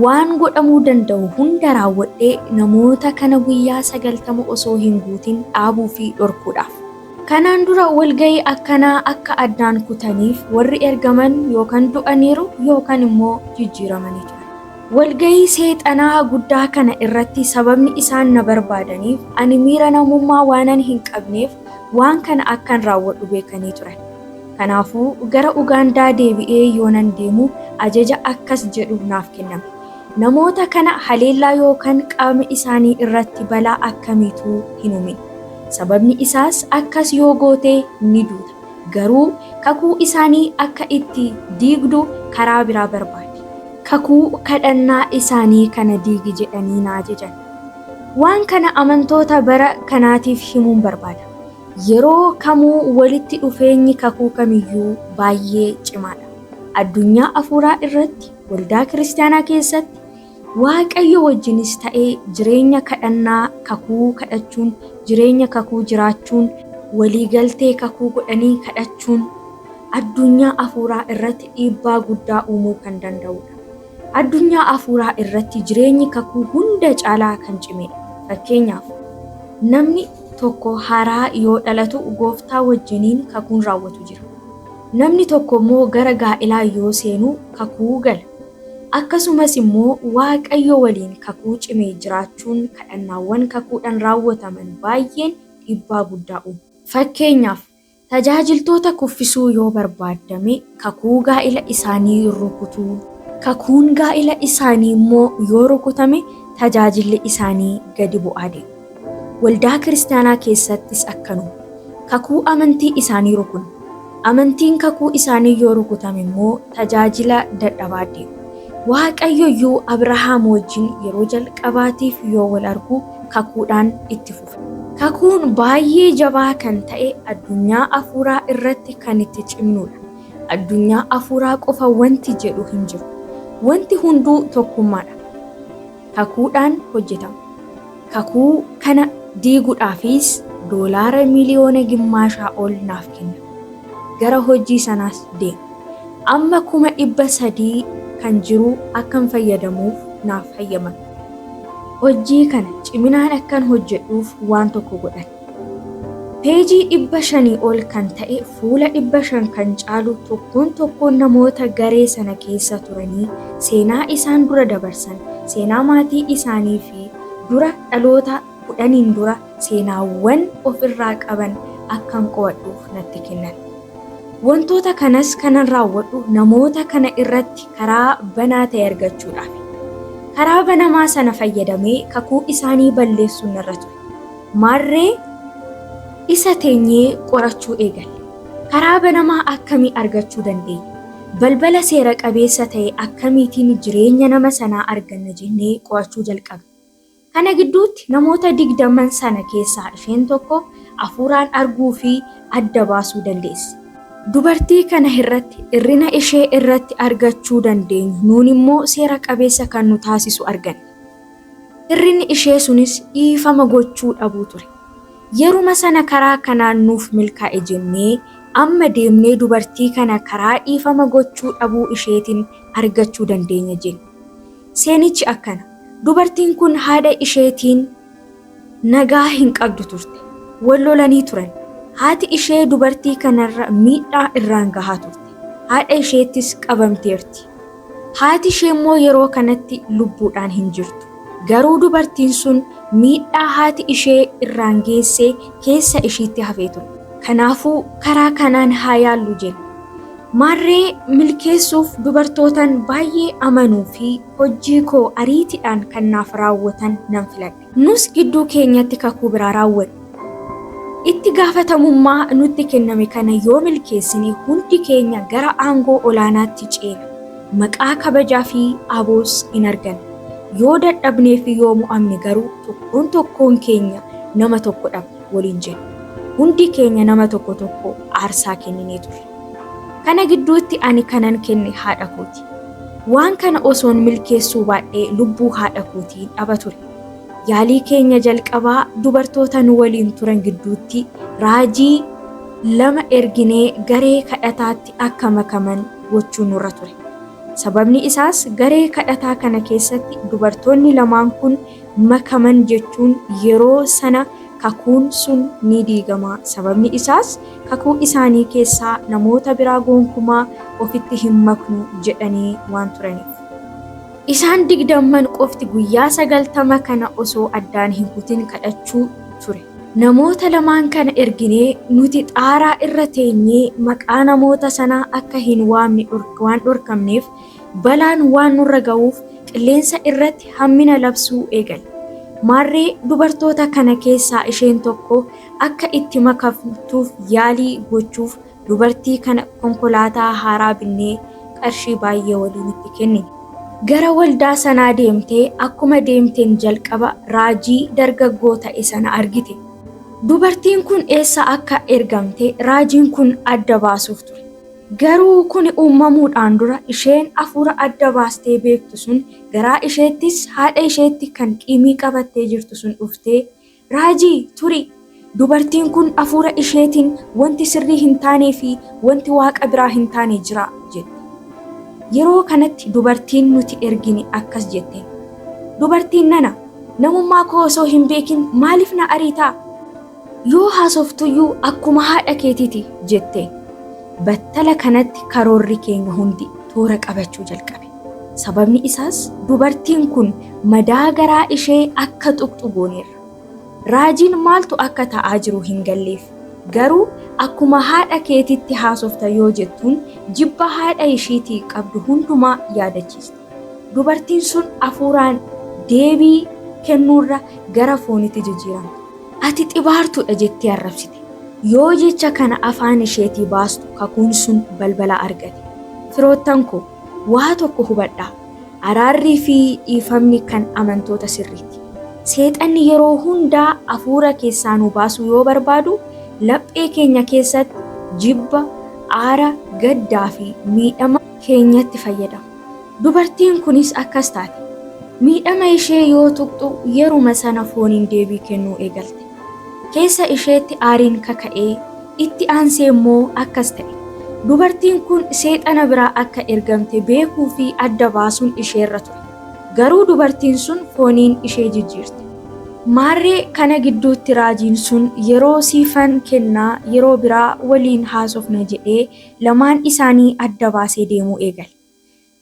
Waan godhamuu danda'u hunda raawwadhee namoota kana guyyaa 90 osoo hin guutin dhaabuu fi dhorkuudhaaf. Kanaan dura walga'ii akkanaa akka addaan kutaniif warri ergaman yookan du'aniiru yookan immoo jijjiiramanii turan. Walga'ii Seexanaa guddaa kana irratti sababni isaan na barbaadaniif, ani miira namummaa waanan hin qabneef waan kana akkan raawwadhu beekanii turan. Kanaafuu, gara Ugaandaa deebi'ee yoonan deemu ajaja akkas jedhu naaf kenname, Namoota kana haleellaa yookaan qaama isaanii irratti balaa akkamiituu hin uumin. Sababni isaas akkas yoo goote ni duuta. Garuu kakuu isaanii akka itti diigdu karaa biraa barbaadi. Kakuu kadhannaa isaanii kana diigi jedhanii na ajajan. Waan kana amantoota bara kanaatiif himuun barbaada. Yeroo kamuu walitti dhufeenyi kakuu kamiyyuu baay'ee cimaadha. Addunyaa hafuuraa irratti, waldaa Kiristiyaanaa keessatti, Waaqayyo wajjinis ta'e jireenya kadhannaa kakuu kadhachuun, jireenya kakuu jiraachuun, walii galtee kakuu godhanii kadhachuun addunyaa hafuuraa irratti dhiibbaa guddaa uumuu kan danda'uu dha. Addunyaa hafuuraa irratti jireenyi kakuu hunda caalaa kan cimee dha. Fakkeenyaaf, namni tokko haaraa yoo dhalatu gooftaa wajjiniin kakuun raawwatu jira. Namni tokko immoo gara gaa'elaa yoo seenu kakuu gala. Akkasumas immoo Waaqayyo waliin kakuu cime jiraachuun kadhannaawwan kakuudhaan raawwataman baay'een dhiibbaa guddaa uumu. Fakkeenyaaf, tajaajiltoota kuffisuu yoo barbaaddame kakuu gaa'ila isaanii rukutuu. Kakuun gaa'ila isaanii immoo yoo rukutame tajaajilli isaanii gadi bu'aa deema. Waldaa kiristaanaa keessattis akkanuma. Kakuu amantii isaanii rukunna. Amantiin kakuu isaanii yoo rukutame immoo tajaajila dadhabaa deemu. Waaqayyo iyyuu Abrahaam wajjin yeroo jalqabaatiif yoo wal argu kakuudhaan itti fufe. Kakuun baay'ee jabaa kan ta'e addunyaa afuuraa irratti kan itti cimnuudha. Addunyaa afuuraa qofa wanti jedhu hin jiru. Wanti hunduu tokkummaadha. kakuudhaan hojjetama. Kakuu kana diiguudhaafis doolaara miliyoona gimmaashaa ol naaf kenna. Gara hojii sanaas deema. Amma kuma dhibba sadii kan jiru akkan fayyadamuuf naaf hayyamame. Hojii kana ciminaan akkan hojjedhuuf waan tokko godhan. Peejii 500 ol kan ta'e fuula 500 kan caalu tokkoon tokkoon namoota garee sana keessa turanii seenaa isaan dura dabarsan, seenaa maatii isaanii fi dura dhaloota kudhaniin dura seenaawwan of irraa qaban akkan qo'adhuuf natti kennan. Wantoota kanas kanan raawwadhu namoota kana irratti karaa banaa ta'e argachuudhaafi. Karaa banamaa sana fayyadamee kakuu isaanii balleessuun narra ture. Maarree isa teenyee qorachuu eegalle. Karaa banamaa akkamii argachuu dandeenya? Balbala seera qabeessa ta'e akkamiitiin jireenya nama sanaa arganna jennee qorachuu jalqabne. Kana gidduutti namoota digdaman sana keessaa isheen tokko hafuuraan arguu fi adda baasuu dandeesse. Dubartii kana irratti hir'ina ishee irratti argachuu dandeenyu nuun immoo seera qabeessa kan nu taasisu arganne. Hir'inni ishee sunis dhiifama gochuu dhabuu ture. Yeruma sana karaa kanaan nuuf milkaa'e jennee amma deemnee dubartii kana karaa dhiifama gochuu dhabuu isheetiin argachuu dandeenya jenne. Seenichi akkana, dubartiin kun haadha isheetiin. nagaa hin qabdu turte. Wal lolanii turan. Haati ishee dubartii kanarra miidhaa irraan gahaa turte. Haadha isheettis qabamteerti. Haati isheemmoo yeroo kanatti lubbuudhaan hin jirtu. Garuu dubartiin sun miidhaa haati ishee irraan geesse keessa ishiitti hafee ture. Kanaafuu karaa kanaan haa yaallu jenna. Maarree milkeessuuf dubartootan baay'ee amanuu fi hojjii koo ariitiidhaan kan naaf raawwatan nan filadha. Nus gidduu keenyatti kakuu biraa raawwanne. Itti gaafatamummaa nutti kenname kana yoo milkeessine hundi keenya gara aangoo olaanaatti ceena, maqaa kabajaa fi aboos in arganna. Yoo dadhabnee fi yoo mo'amne garuu tokkoon tokkoon keenya nama tokko dhabna waliin jenne. Hundi keenya nama tokko tokko aarsaa kenninee turre. Kana gidduutti ani kanan kenne haadha kooti. Waan kana osoon milkeessuu baadhee lubbuu haadha kootii dhaba ture. Yaalii keenya jalqabaa dubartoota nu waliin turan gidduutti raajii lama erginee garee kadhataatti akka makaman gochuu nurra ture. Sababni isaas garee kadhataa kana keessatti dubartoonni lamaan kun makaman jechuun yeroo sana kakuun sun ni diigama, sababni isaas, kakuu isaanii keessaa namoota biraa gonkumaa ofitti hin maknu jedhanii waan turaniif. Isaan digdamman qofti guyyaa sagaltama kana osoo addaan hin kutin kadhachuu ture. Namoota lamaan kana erginee nuti xaaraa irra teenyee maqaa namoota sanaa akka hin waamne waan dhorkamneef, Balaan waan nurra ga'uuf qilleensa irratti hammina labsuu eegale. Maarree dubartoota kana keessaa isheen tokko akka itti makamtuuf yaalii gochuuf dubartii kana konkolaataa haaraa binnee qarshii baay'ee waliin itti kennine. Gara waldaa sanaa deemtee akkuma deemteen jalqaba raajii dargaggoo ta'e sana argite. Dubartiin kun eessa akka ergamte raajiin kun adda baasuuf ture. Garuu kuni uumamuudhaan dura isheen afuura adda baastee beektu sun garaa isheettis haadha isheetti kan qiimii qabattee jirtu sun dhuftee, Raajii! Turi! Dubartiin kun afuura isheetiin wanti sirrii hin taanee fi wanti Waaqa biraa hin taane jira jette. Yeroo kanatti dubartiin nuti ergine akkas jetteen, Dubartiin nana, namummaa koo osoo hin beekin maaliif na ariita? Yoo haasoftuyyuu akkuma haadha keetiiti jette. Battala kanatti karoorri keenya hundi toora qabachuu jalqabe. Sababni isaas dubartiin kun madaa garaa ishee akka tuqxu gooneerra. Raajiin maaltu akka ta'aa jiru hin galleef. Garuu akkuma haadha keetitti haasofta yoo jettuun jibba haadha ishiitii qabdu hundumaa yaadachiiste. Dubartiin sun afuuraan deebii kennuurra gara foonitti jijjiiramte. Ati xibaartuudha jettee arrabsite. Yoo jecha kana afaan isheetii baastu kakuun sun balbala argate. Firoottan koo, waa tokko hubadhaa, araarrii fi dhiifamni kan amantoota sirriiti. Seexanni yeroo hundaa afuura keessaa nu baasuu yoo barbaadu, laphee keenya keessatti jibba, aara, gaddaa fi miidhama, keenyatti fayyadamu. Dubartiin kunis akkas taate. Miidhama ishee yoo tuqxu yeruma sana fooniin deebii kennuu eegalte. Keessa isheetti aariin kaka'ee, itti aansee immoo akkas ta'e. Dubartiin kun seexana biraa akka ergamte beekuu fi adda baasuun isheerra ture. Garuu dubartiin sun fooniin ishee jijjiirte. Maarree kana gidduutti raajiin sun yeroo siifan kennaa yeroo biraa waliin haasofna jedhee Lamaan isaanii adda baasee deemuu eegale.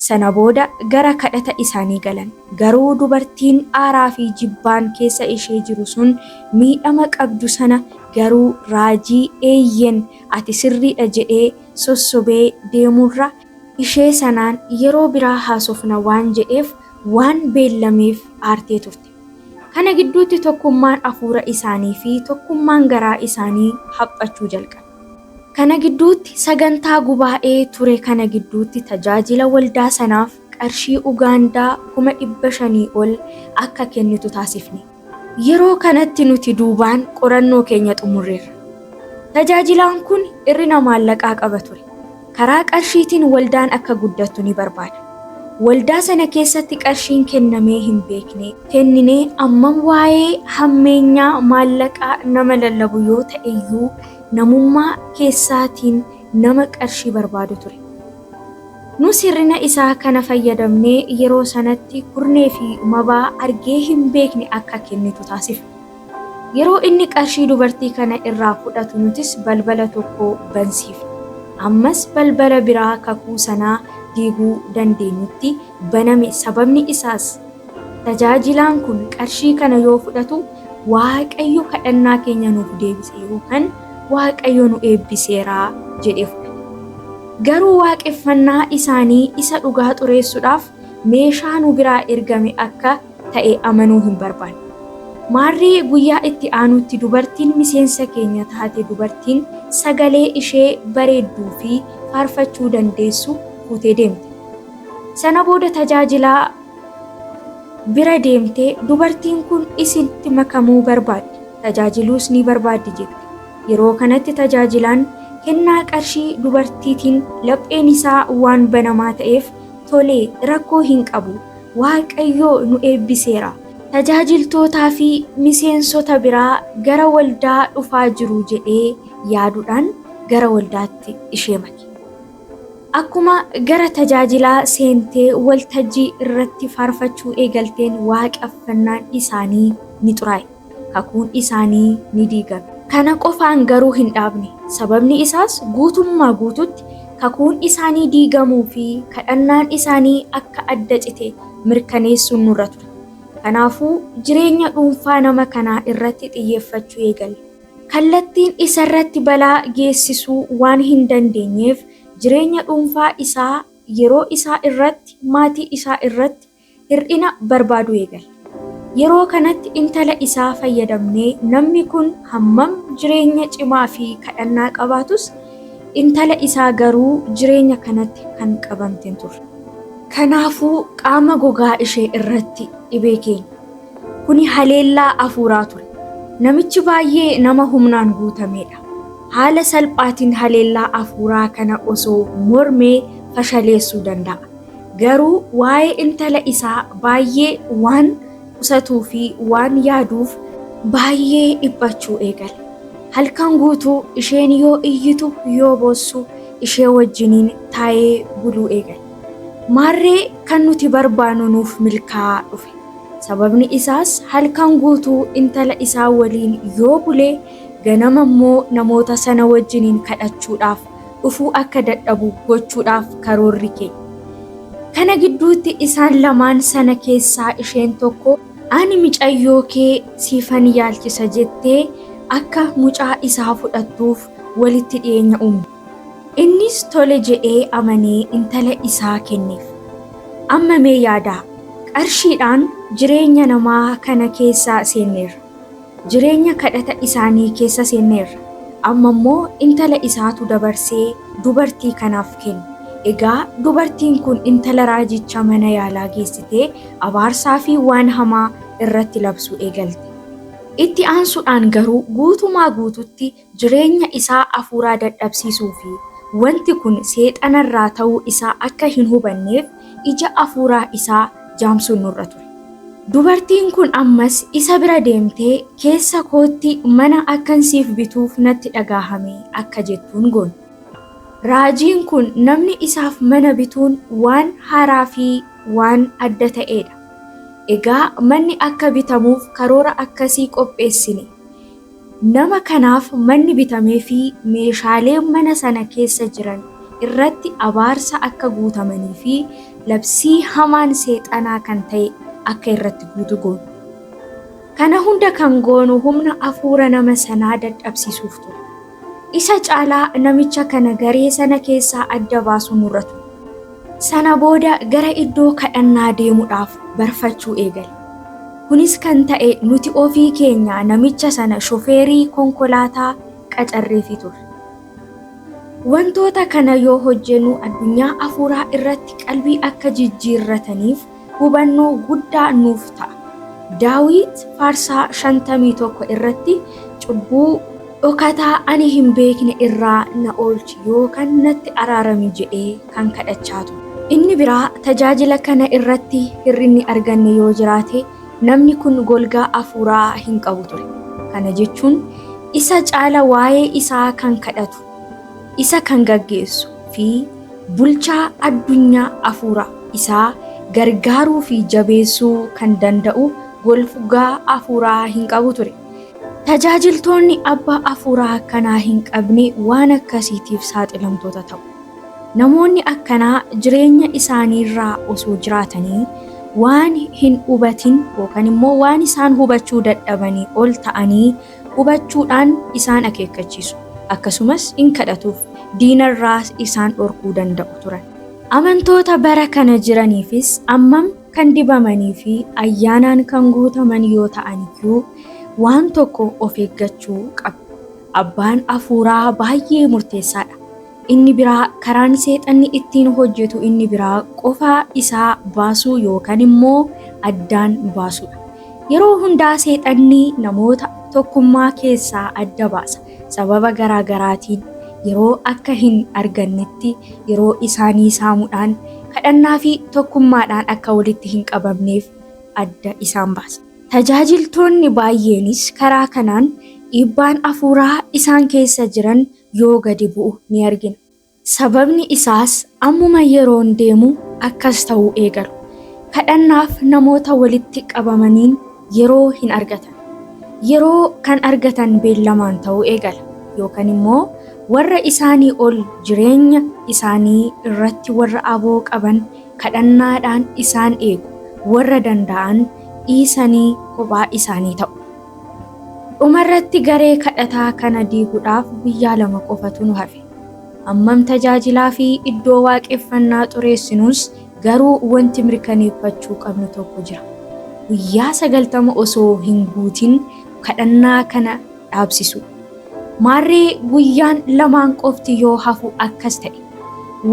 Sana booda gara kadhata isaanii galan. Garuu dubartiin aaraa fi jibbaan keessa ishee jiru sun miidhama qabdu sana garuu raajii eeyyen ati sirriidha jedhee sossobee deemuurra ishee sanaan yeroo biraa haasofna waan jedheef waan beellameef aartee turte. Kana gidduutti tokkummaan afuura isaanii fi tokkummaan garaa isaanii haphachuu jalqabe. Kana gidduutti sagantaa gubaa'ee ture kana gidduutti tajaajila waldaa sanaaf qarshii Ugaandaa 500,000 ol akka kennitu taasifne. Yeroo kanatti nuti duubaan qorannoo keenya xumurreerra. Tajaajilaan kun ir'ina maallaqaa qaba ture. Karaa qarshiitiin waldaan akka guddattu ni barbaada. Waldaa sana keessatti qarshiin kennamee hin beekne. kenninee ammam waa'ee hammeenyaa maallaqaa nama lallabu yoo ta'e iyyuu namummaa keessaatiin nama qarshii barbaadu ture. Nus hir'ina isaa kana fayyadamnee yeroo sanatti kurnee fi mabaa argee hin beekne akka kennitu taasifne. Yeroo inni qarshii dubartii kana irraa fudhatu nutis balbala tokko bansiifne. Ammas balbala biraa kakuu sanaa diiguu dandeenyutti baname sababni isaas tajaajilaan kun qarshii kana yoo fudhatu Waaqayyo kadhannaa keenya nuuf deebise yookan Waaqayyo nu eebbiseera jedhee fudhata. Garuu waaqeffannaa isaanii isa dhugaa xureessuudhaaf meeshaa nu biraa ergame akka ta'e amanuu hin barbaanne. Maarree guyyaa itti aanutti dubartiin miseensa keenya taate dubartiin sagalee ishee bareedduu fi faarfachuu dandeessu fuutee deemte. Sana booda tajaajilaa bira deemtee dubartiin kun isinitti makamuu barbaaddi, tajaajiluus ni barbaaddi jette. Yeroo kanatti tajaajilaan kennaa qarshii dubartiitiin lapheen isaa waan banamaa ta'eef, Tole, rakkoo hin qabu, Waaqayyo nu eebbiseera. Tajaajiltootaa fi miseensota biraa gara waldaa dhufaa jiru jedhee yaaduudhaan gara waldaatti ishee make. Akkuma gara tajaajilaa seentee waltajjii irratti faarfachuu eegalteen waaqeffannaan isaanii ni xuraa'e. kakuun isaanii ni diigame. Kana qofaan garuu hin dhaabne, sababni isaas guutummaa guutuutti kakuun isaanii diigamuu fi kadhannaan isaanii akka adda cite mirkaneessuun nurra ture. Kanaafuu, jireenya dhuunfaa nama kanaa irratti xiyyeeffachuu eegalle. Kallattiin isa irratti balaa geessisuu waan hin dandeenyeef, jireenya dhuunfaa isaa, yeroo isaa irratti, maatii isaa irratti, hir'ina barbaaduu eegale. Yeroo kanatti intala isaa fayyadamnee namni kun hammam jireenya cimaa fi kadhannaa qabaatus intala isaa garuu jireenya kanatti kan qabamte hin turre. Kanaafuu qaama gogaa ishee irratti dhibee keenya. Kuni haleellaa hafuuraa ture. Namichi baay'ee nama humnaan guutameedha. Haala salphaatiin haleellaa hafuuraa kana osoo mormee fashaleessuu danda'a. Garuu waa'ee intala isaa baay'ee waan qusatuu fi waan yaaduuf baay'ee dhiphachuu eegale. Halkan guutuu isheen yoo iyyitu yoo boossu ishee wajjiniin taa'ee buluu eegale. Maarree kan nuti barbaannu nuuf milkaa'aa dhufe. Sababni isaas halkan guutuu intala isaa waliin yoo bule ganama immoo namoota sana wajjiniin kadhachuudhaaf dhufuu akka dadhabu gochuudhaaf karoorri kee. Kana gidduutti isaan lamaan sana keessaa isheen tokko ani micayyoo kee siifan yaalchisa jettee akka mucaa isaa fudhattuuf walitti dhiyeenya uumte. Innis tole jedhee amanee intala isaa kenneef. Amma mee yaadaa, qarshiidhaan jireenya namaa kana keessa seenneerra. Jireenya kadhata isaanii keessa seenneerra. Amma immoo intala isaatu dabarsee dubartii kanaaf kenne. Egaa dubartiin kun intala raajicha mana yaalaa geessitee abaarsaa fi waan hamaa irratti labsuu eegalte. Itti aansuudhaan garuu guutumaa guututti jireenya isaa hafuuraa dadhabsiisuu fi wanti kun Seexana irraa ta'uu isaa akka hin hubanneef ija hafuuraa isaa jaamsuun nurra ture. Dubartiin kun ammas isa bira deemtee, Keessa kootti mana akkan siif bituuf natti dhagaahame akka jettuun goone. Raajiin kun namni isaaf mana bituun waan haaraa fi waan adda ta'ee dha. Egaa manni akka bitamuuf karoora akkasii qopheessine. Nama kanaaf manni bitameefii meeshaaleen mana sana keessa jiran irratti abaarsa akka guutamanii fi labsii hamaan seexanaa kan ta'e akka irratti guutu goona. Kana hunda kan goonu humna afuura nama sanaa dadhabsiisuuf ture. Isa caalaa namicha kana garee sana keessaa adda baasuu nurra ture. Sana booda gara iddoo kadhannaa deemuudhaaf barfachuu eegale. Kunis kan ta'e nuti ofii keenya namicha sana shofeerii konkolaataa qacarreefii turre. Wantoota kana yoo hojjennu addunyaa hafuuraa irratti qalbii akka jijjiirrataniif hubannoo guddaa nuuf ta'a. Daawit faarsaa 51 irratti cubbuu dhokataa ani hin beekne irraa na oolchi yookaan natti araarami jedhee kan kadhachaa ture. Inni biraa tajaajila kana irratti hir'inni arganne yoo jiraate namni kun golgaa hafuuraa hin qabu ture. Kana jechuun isa caala waa'ee isaa kan kadhatu, isa kan gaggeessu fi bulchaa addunyaa afuura isaa gargaaruu fi jabeessuu kan danda'u golfugaa afuuraa hin qabu ture. Tajaajiltoonni abbaa afuuraa akkanaa hin qabne waan akkasiitiif saaxilamtoota ta'u. Namoonni akkanaa jireenya isaaniirraa osoo jiraatanii waan hin hubatin yookaan immoo waan isaan hubachuu dadhabanii ol ta'anii hubachuudhaan isaan akeekkachiisu, akkasumas in kadhatuuf, diinarraas isaan dhorkuu danda'u turan. Amantoota bara kana jiraniifis ammam kan dibamanii fi ayyaanaan kan guutaman yoo ta'an iyyuu, waan tokko of eeggachuu qabu. Abbaan hafuuraa baay'ee murteessaa dha. Inni biraa karaan seexanni ittiin hojjetu inni biraa qofaa isaa baasuu yookaan immoo addaan baasuudha. Yeroo hundaa seexanni namoota tokkummaa keessaa adda baasa. Sababa garaa garaatiin yeroo akka hin argannetti yeroo isaanii saamudhaan kadhannaa fi tokkummaadhaan akka walitti hin qabamneef adda isaan baasa. Tajaajiltoonni baay'eenis karaa kanaan dhiibbaan afuuraa isaan keessa jiran yoo gadi bu'u ni argina. Sababni isaas ammuma yeroon deemu akkas ta'uu eegalu. Kadhannaaf namoota walitti qabamaniin yeroo hin argatan. Yeroo kan argatan beellamaan ta'uu eegala. Yookan immoo warra isaanii ol jireenya isaanii irratti warra aboo qaban kadhannaadhaan isaan eegu, warra danda'an dhiisanii kophaa isaanii ta'u. Dhumarratti garee kadhataa kana diiguudhaaf guyyaa lama qofatu nu hafe. Hammam tajaajilaa fi iddoo waaqeffannaa xureessinuus garuu wanti mirkaneeffachuu qabnu tokko jira. Guyyaa sagaltama osoo hin guutin kadhannaa kana dhaabsisuu. Maarree guyyaan lamaan qofti yoo hafu akkas ta'e.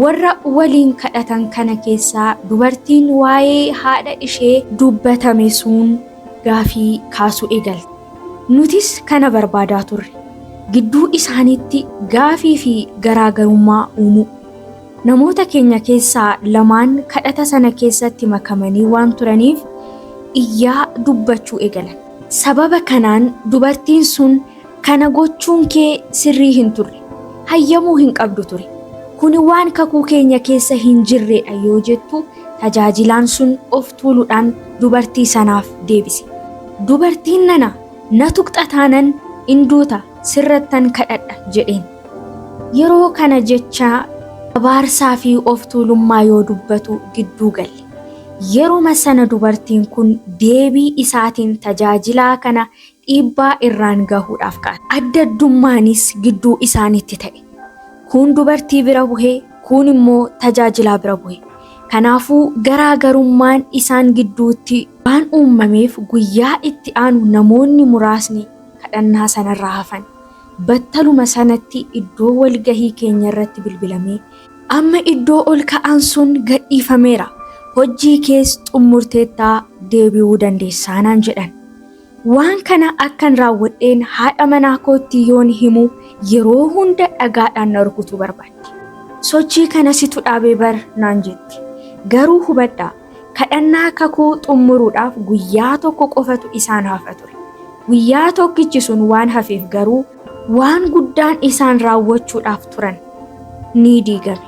Warra waliin kadhatan kana keessaa dubartiin waa'ee haadha ishee dubbatame sun gaafii kaasuu eegalte. Nutis kana barbaadaa turre. Gidduu isaaniitti gaafii fi garaagarummaa uumuu. Namoota keenya keessaa lamaan kadhata sana keessatti makamanii waan turaniif iyyaa dubbachuu eegalan. Sababa kanaan dubartiin sun Kana gochuun kee sirrii hin turre. Hayyamuu hin qabdu ture. Kuni waan kakuu keenya keessa hin jirredha yoo jettu tajaajilaan sun of tuuludhaan dubartii sanaaf deebise. Dubartiin nana na tuqxa taanan in duuta sirrattan kadhadha jedheen. Yeroo kana jecha abaarsaa fi of tuulummaa yoo dubbatu gidduu galle. Yeruma sana dubartiin kun deebii isaatiin tajaajilaa kana dhiibbaa irraan gahuudhaaf ka'an. Adda addummaanis gidduu isaaniitti ta'e. Kuun dubartii bira buhe, kuun immoo tajaajilaa bira buhe. Kanaafuu garaa garummaan isaan gidduutti waan uummameef guyyaa itti aanu namoonni muraasni kadhannaa sanarraa hafan. Battaluma sanatti iddoo walgahii keenyarratti bilbilamee, Amma iddoo ol ka'aan sun gadhiifameera, hojjii kees xummurteetta deebi'uu dandeessaa naan jedhan. Waan kana akkan raawwadheen haadha manaa kootti yoon himu yeroo hunda dhagaadhaan na rukutuu barbaaddi. Sochii kana situ dhaabe bar naan jetti. Garuu hubadhaa, kadhannaa kakuu xummuruudhaaf guyyaa tokko qofatu isaan hafa ture. Guyyaa tokkichi sun waan hafeef garuu Waan guddaan isaan raawwachuudhaaf turan ni diigame.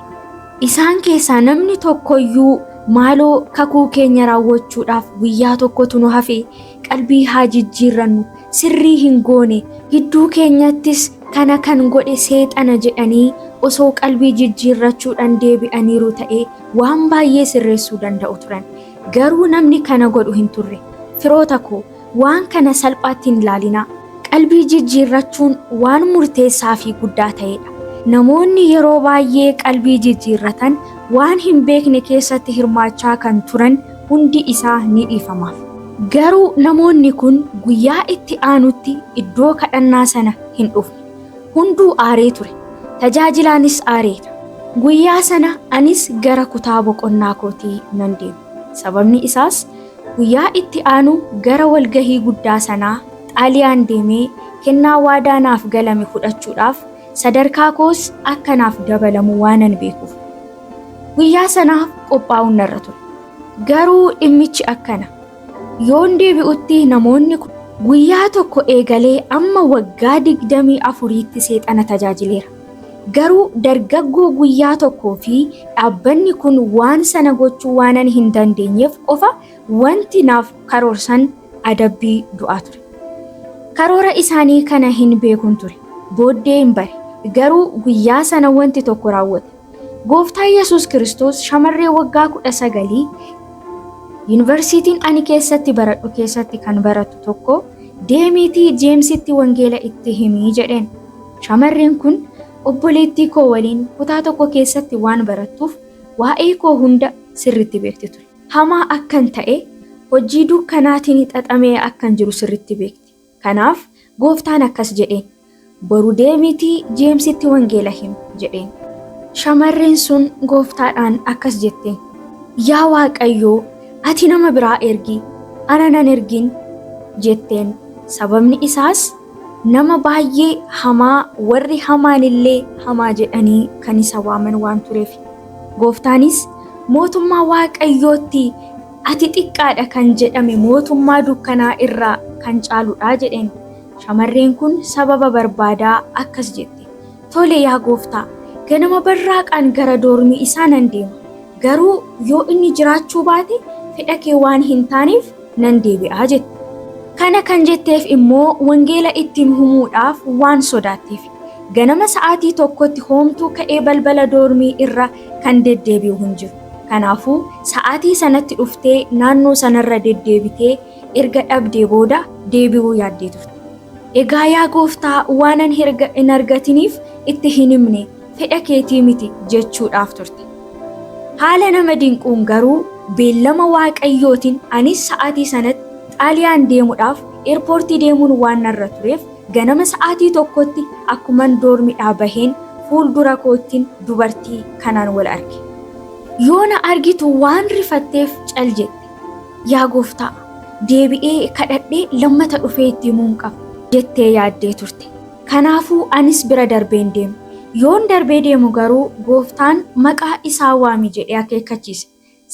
Isaan keessaa namni tokkoyyuu maaloo kakuu keenya raawwachuudhaaf guyyaa tokkotu nu hafe qalbii haa jijjiirrannu sirrii hin goone gidduu keenyattis kana kan godhe seexana jedhanii osoo qalbii jijjiirrachuudhaan deebi'aniiru ta'ee waan baay'ee sirreessuu danda'u turan. Garuu namni kana godhu hin turre. Firoota koo Waan kana salphaatti hin ilaalinaa. Qalbii jijjiirrachuun waan murteessaa fi guddaa ta'edha. Namoonni yeroo baay'ee qalbii jijjiirratan waan hin beekne keessatti hirmaachaa kan turan hundi isaa ni dhiifamaaf. Garuu namoonni kun guyyaa itti aanutti iddoo kadhannaa sana hin dhufne. Hunduu aaree ture. Tajaajilaanis aareera. Guyyaa sana anis gara kutaa boqonnaa kootii nan deeme. Sababni isaas Guyyaa itti aanu gara walgahii guddaa sanaa Xaaliyaan deemee kennaa waadaa naaf galame fudhachuudhaaf sadarkaa koos akka naaf dabalamu waanan beekuuf guyyaa sanaaf qophaa'uun narra ture. Garuu dhimmichi akkana. Yoon deebi'utti namoonni kun guyyaa tokko eegalee amma waggaa 24tti seexana tajaajileera. Garuu dargaggoo guyyaa tokkoo fi dhaabbanni kun waan sana gochuu waanan hin dandeenyeef qofa wanti naaf karoorsan adabbii du'aa ture. Karoora isaanii kana hin beekun ture. Booddeen bare. Garuu guyyaa sana wanti tokko raawwate. Gooftaa Yesuus Kiristoos shamarree waggaa kudha sagalii yuunivarsiitiin ani keessatti baradhu keessatti kan barattu tokko deemiitii Jeemsitti wangeela itti himii jedheen. Shamarreen kun obboleettii koo waliin kutaa tokko keessatti waan barattuuf waa'ee koo hunda sirriitti beekti ture. Hamaa akkan ta'e, hojii dukkanaatiin xaxamee akkan jiru sirriitti beekti. Kanaaf Gooftaan akkas jedheen, Boru deemiitii Jeemsitti wangeela himi! jedheen. Shamarreen sun Gooftaadhaan akkas jette, Yaa Waaqayyo, ati nama biraa ergi, ana nan ergin! jetteen, sababni isaas, Nama baay'ee hamaa warri hamaanillee hamaa jedhanii kan isa waaman waan tureef. Gooftaanis mootummaa Waaqayyootti ati xiqqaadha kan jedhame mootummaa dukkanaa irraa kan caaludha jedheen. Shamarreen kun sababa barbaadaa akkas jette. Tole yaa gooftaa, ganama barraaqaan gara doormii isaa nan deema. Garuu yoo inni jiraachuu baate fedha kee waan hin taaneef nan deebi'aa jette. Kana kan jetteef immoo wangeela ittiin humuudhaaf waan sodaatteef. Ganama sa'aatii tokkotti hoomtuu ka'ee balbala doormii irra kan deddeebi'u hin jiru. Kanaafuu sa'aatii sanatti dhuftee naannoo sanarra deddeebitee erga dhabdee booda deebi'uu yaaddee turte. Egaa yaa gooftaa waanan hin argatiniif itti hin himne. fedha keetii miti jechuudhaaf turte. Haala nama dinquun garuu beellama Waaqayyootiin anis sa'aatii sanatti Xaaliyaan deemudhaaf eerpoortii deemuun waan narra tureef ganama sa'aatii tokkotti akkuman doormidhaa baheen fuuldura koottin dubartii kanaan wal arge. Yoo na argitu waan rifatteef cal jette. Yaa gooftaa! Deebi'ee kadhadhee lammata dhufee itti himuun qaba jettee yaaddee turte. Kanaafuu anis bira darbeen deeme. Yoon darbee deemu garuu Gooftaan maqaa isaa waami jedhee akeekkachiise.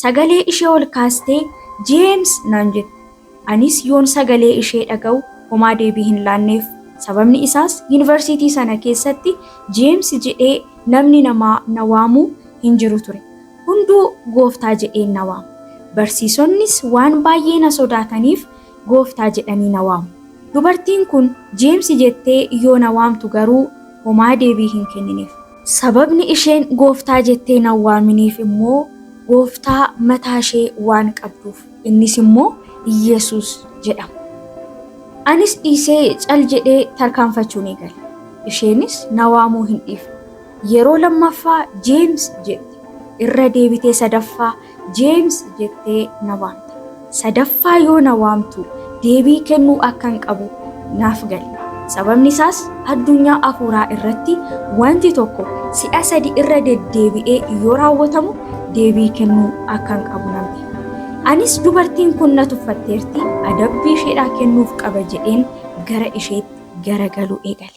Sagalee ishee ol kaastee Jeems naan jette. Anis yoon sagalee ishee dhaga'u homaa deebii hin laanneef. Sababni isaas yunivarsiitii sana keessatti Jeems jedhee namni namaa na waamu hin jiru ture. Hunduu Gooftaa jedheen na waama. Barsiisonnis waan baay'ee na sodaataniif Gooftaa jedhanii na waamu. Dubartiin kun Jeemsi jettee yoo na waamtu garuu homaa deebii hin kennineef. Sababni isheen Gooftaa jettee na hin waaminiif immoo Gooftaa mataa ishee waan qabduuf. Innis immoo Yesuus jedhama. Anis dhiisee cal jedhee tarkaanfachuun eegale. Isheenis na waamuu hin dhiifne. Yeroo lammaffaa Jeems jette. Irra deebitee sadaffaa Jeems jettee na waamte. Sadaffaa yoo na waamtu deebii kennuu akkan qabu naaf gale. Sababni isaas addunyaa hafuuraa irratti wanti tokko si'a sadi irra deddeebi'ee yoo raawwatamu deebii kennuu akkan qabu nan beeka. Anis dubartiin kun na tuffatteerti, adabbii isheedhaa kennuuf qaba jedheen gara isheetti garagaluu eegale.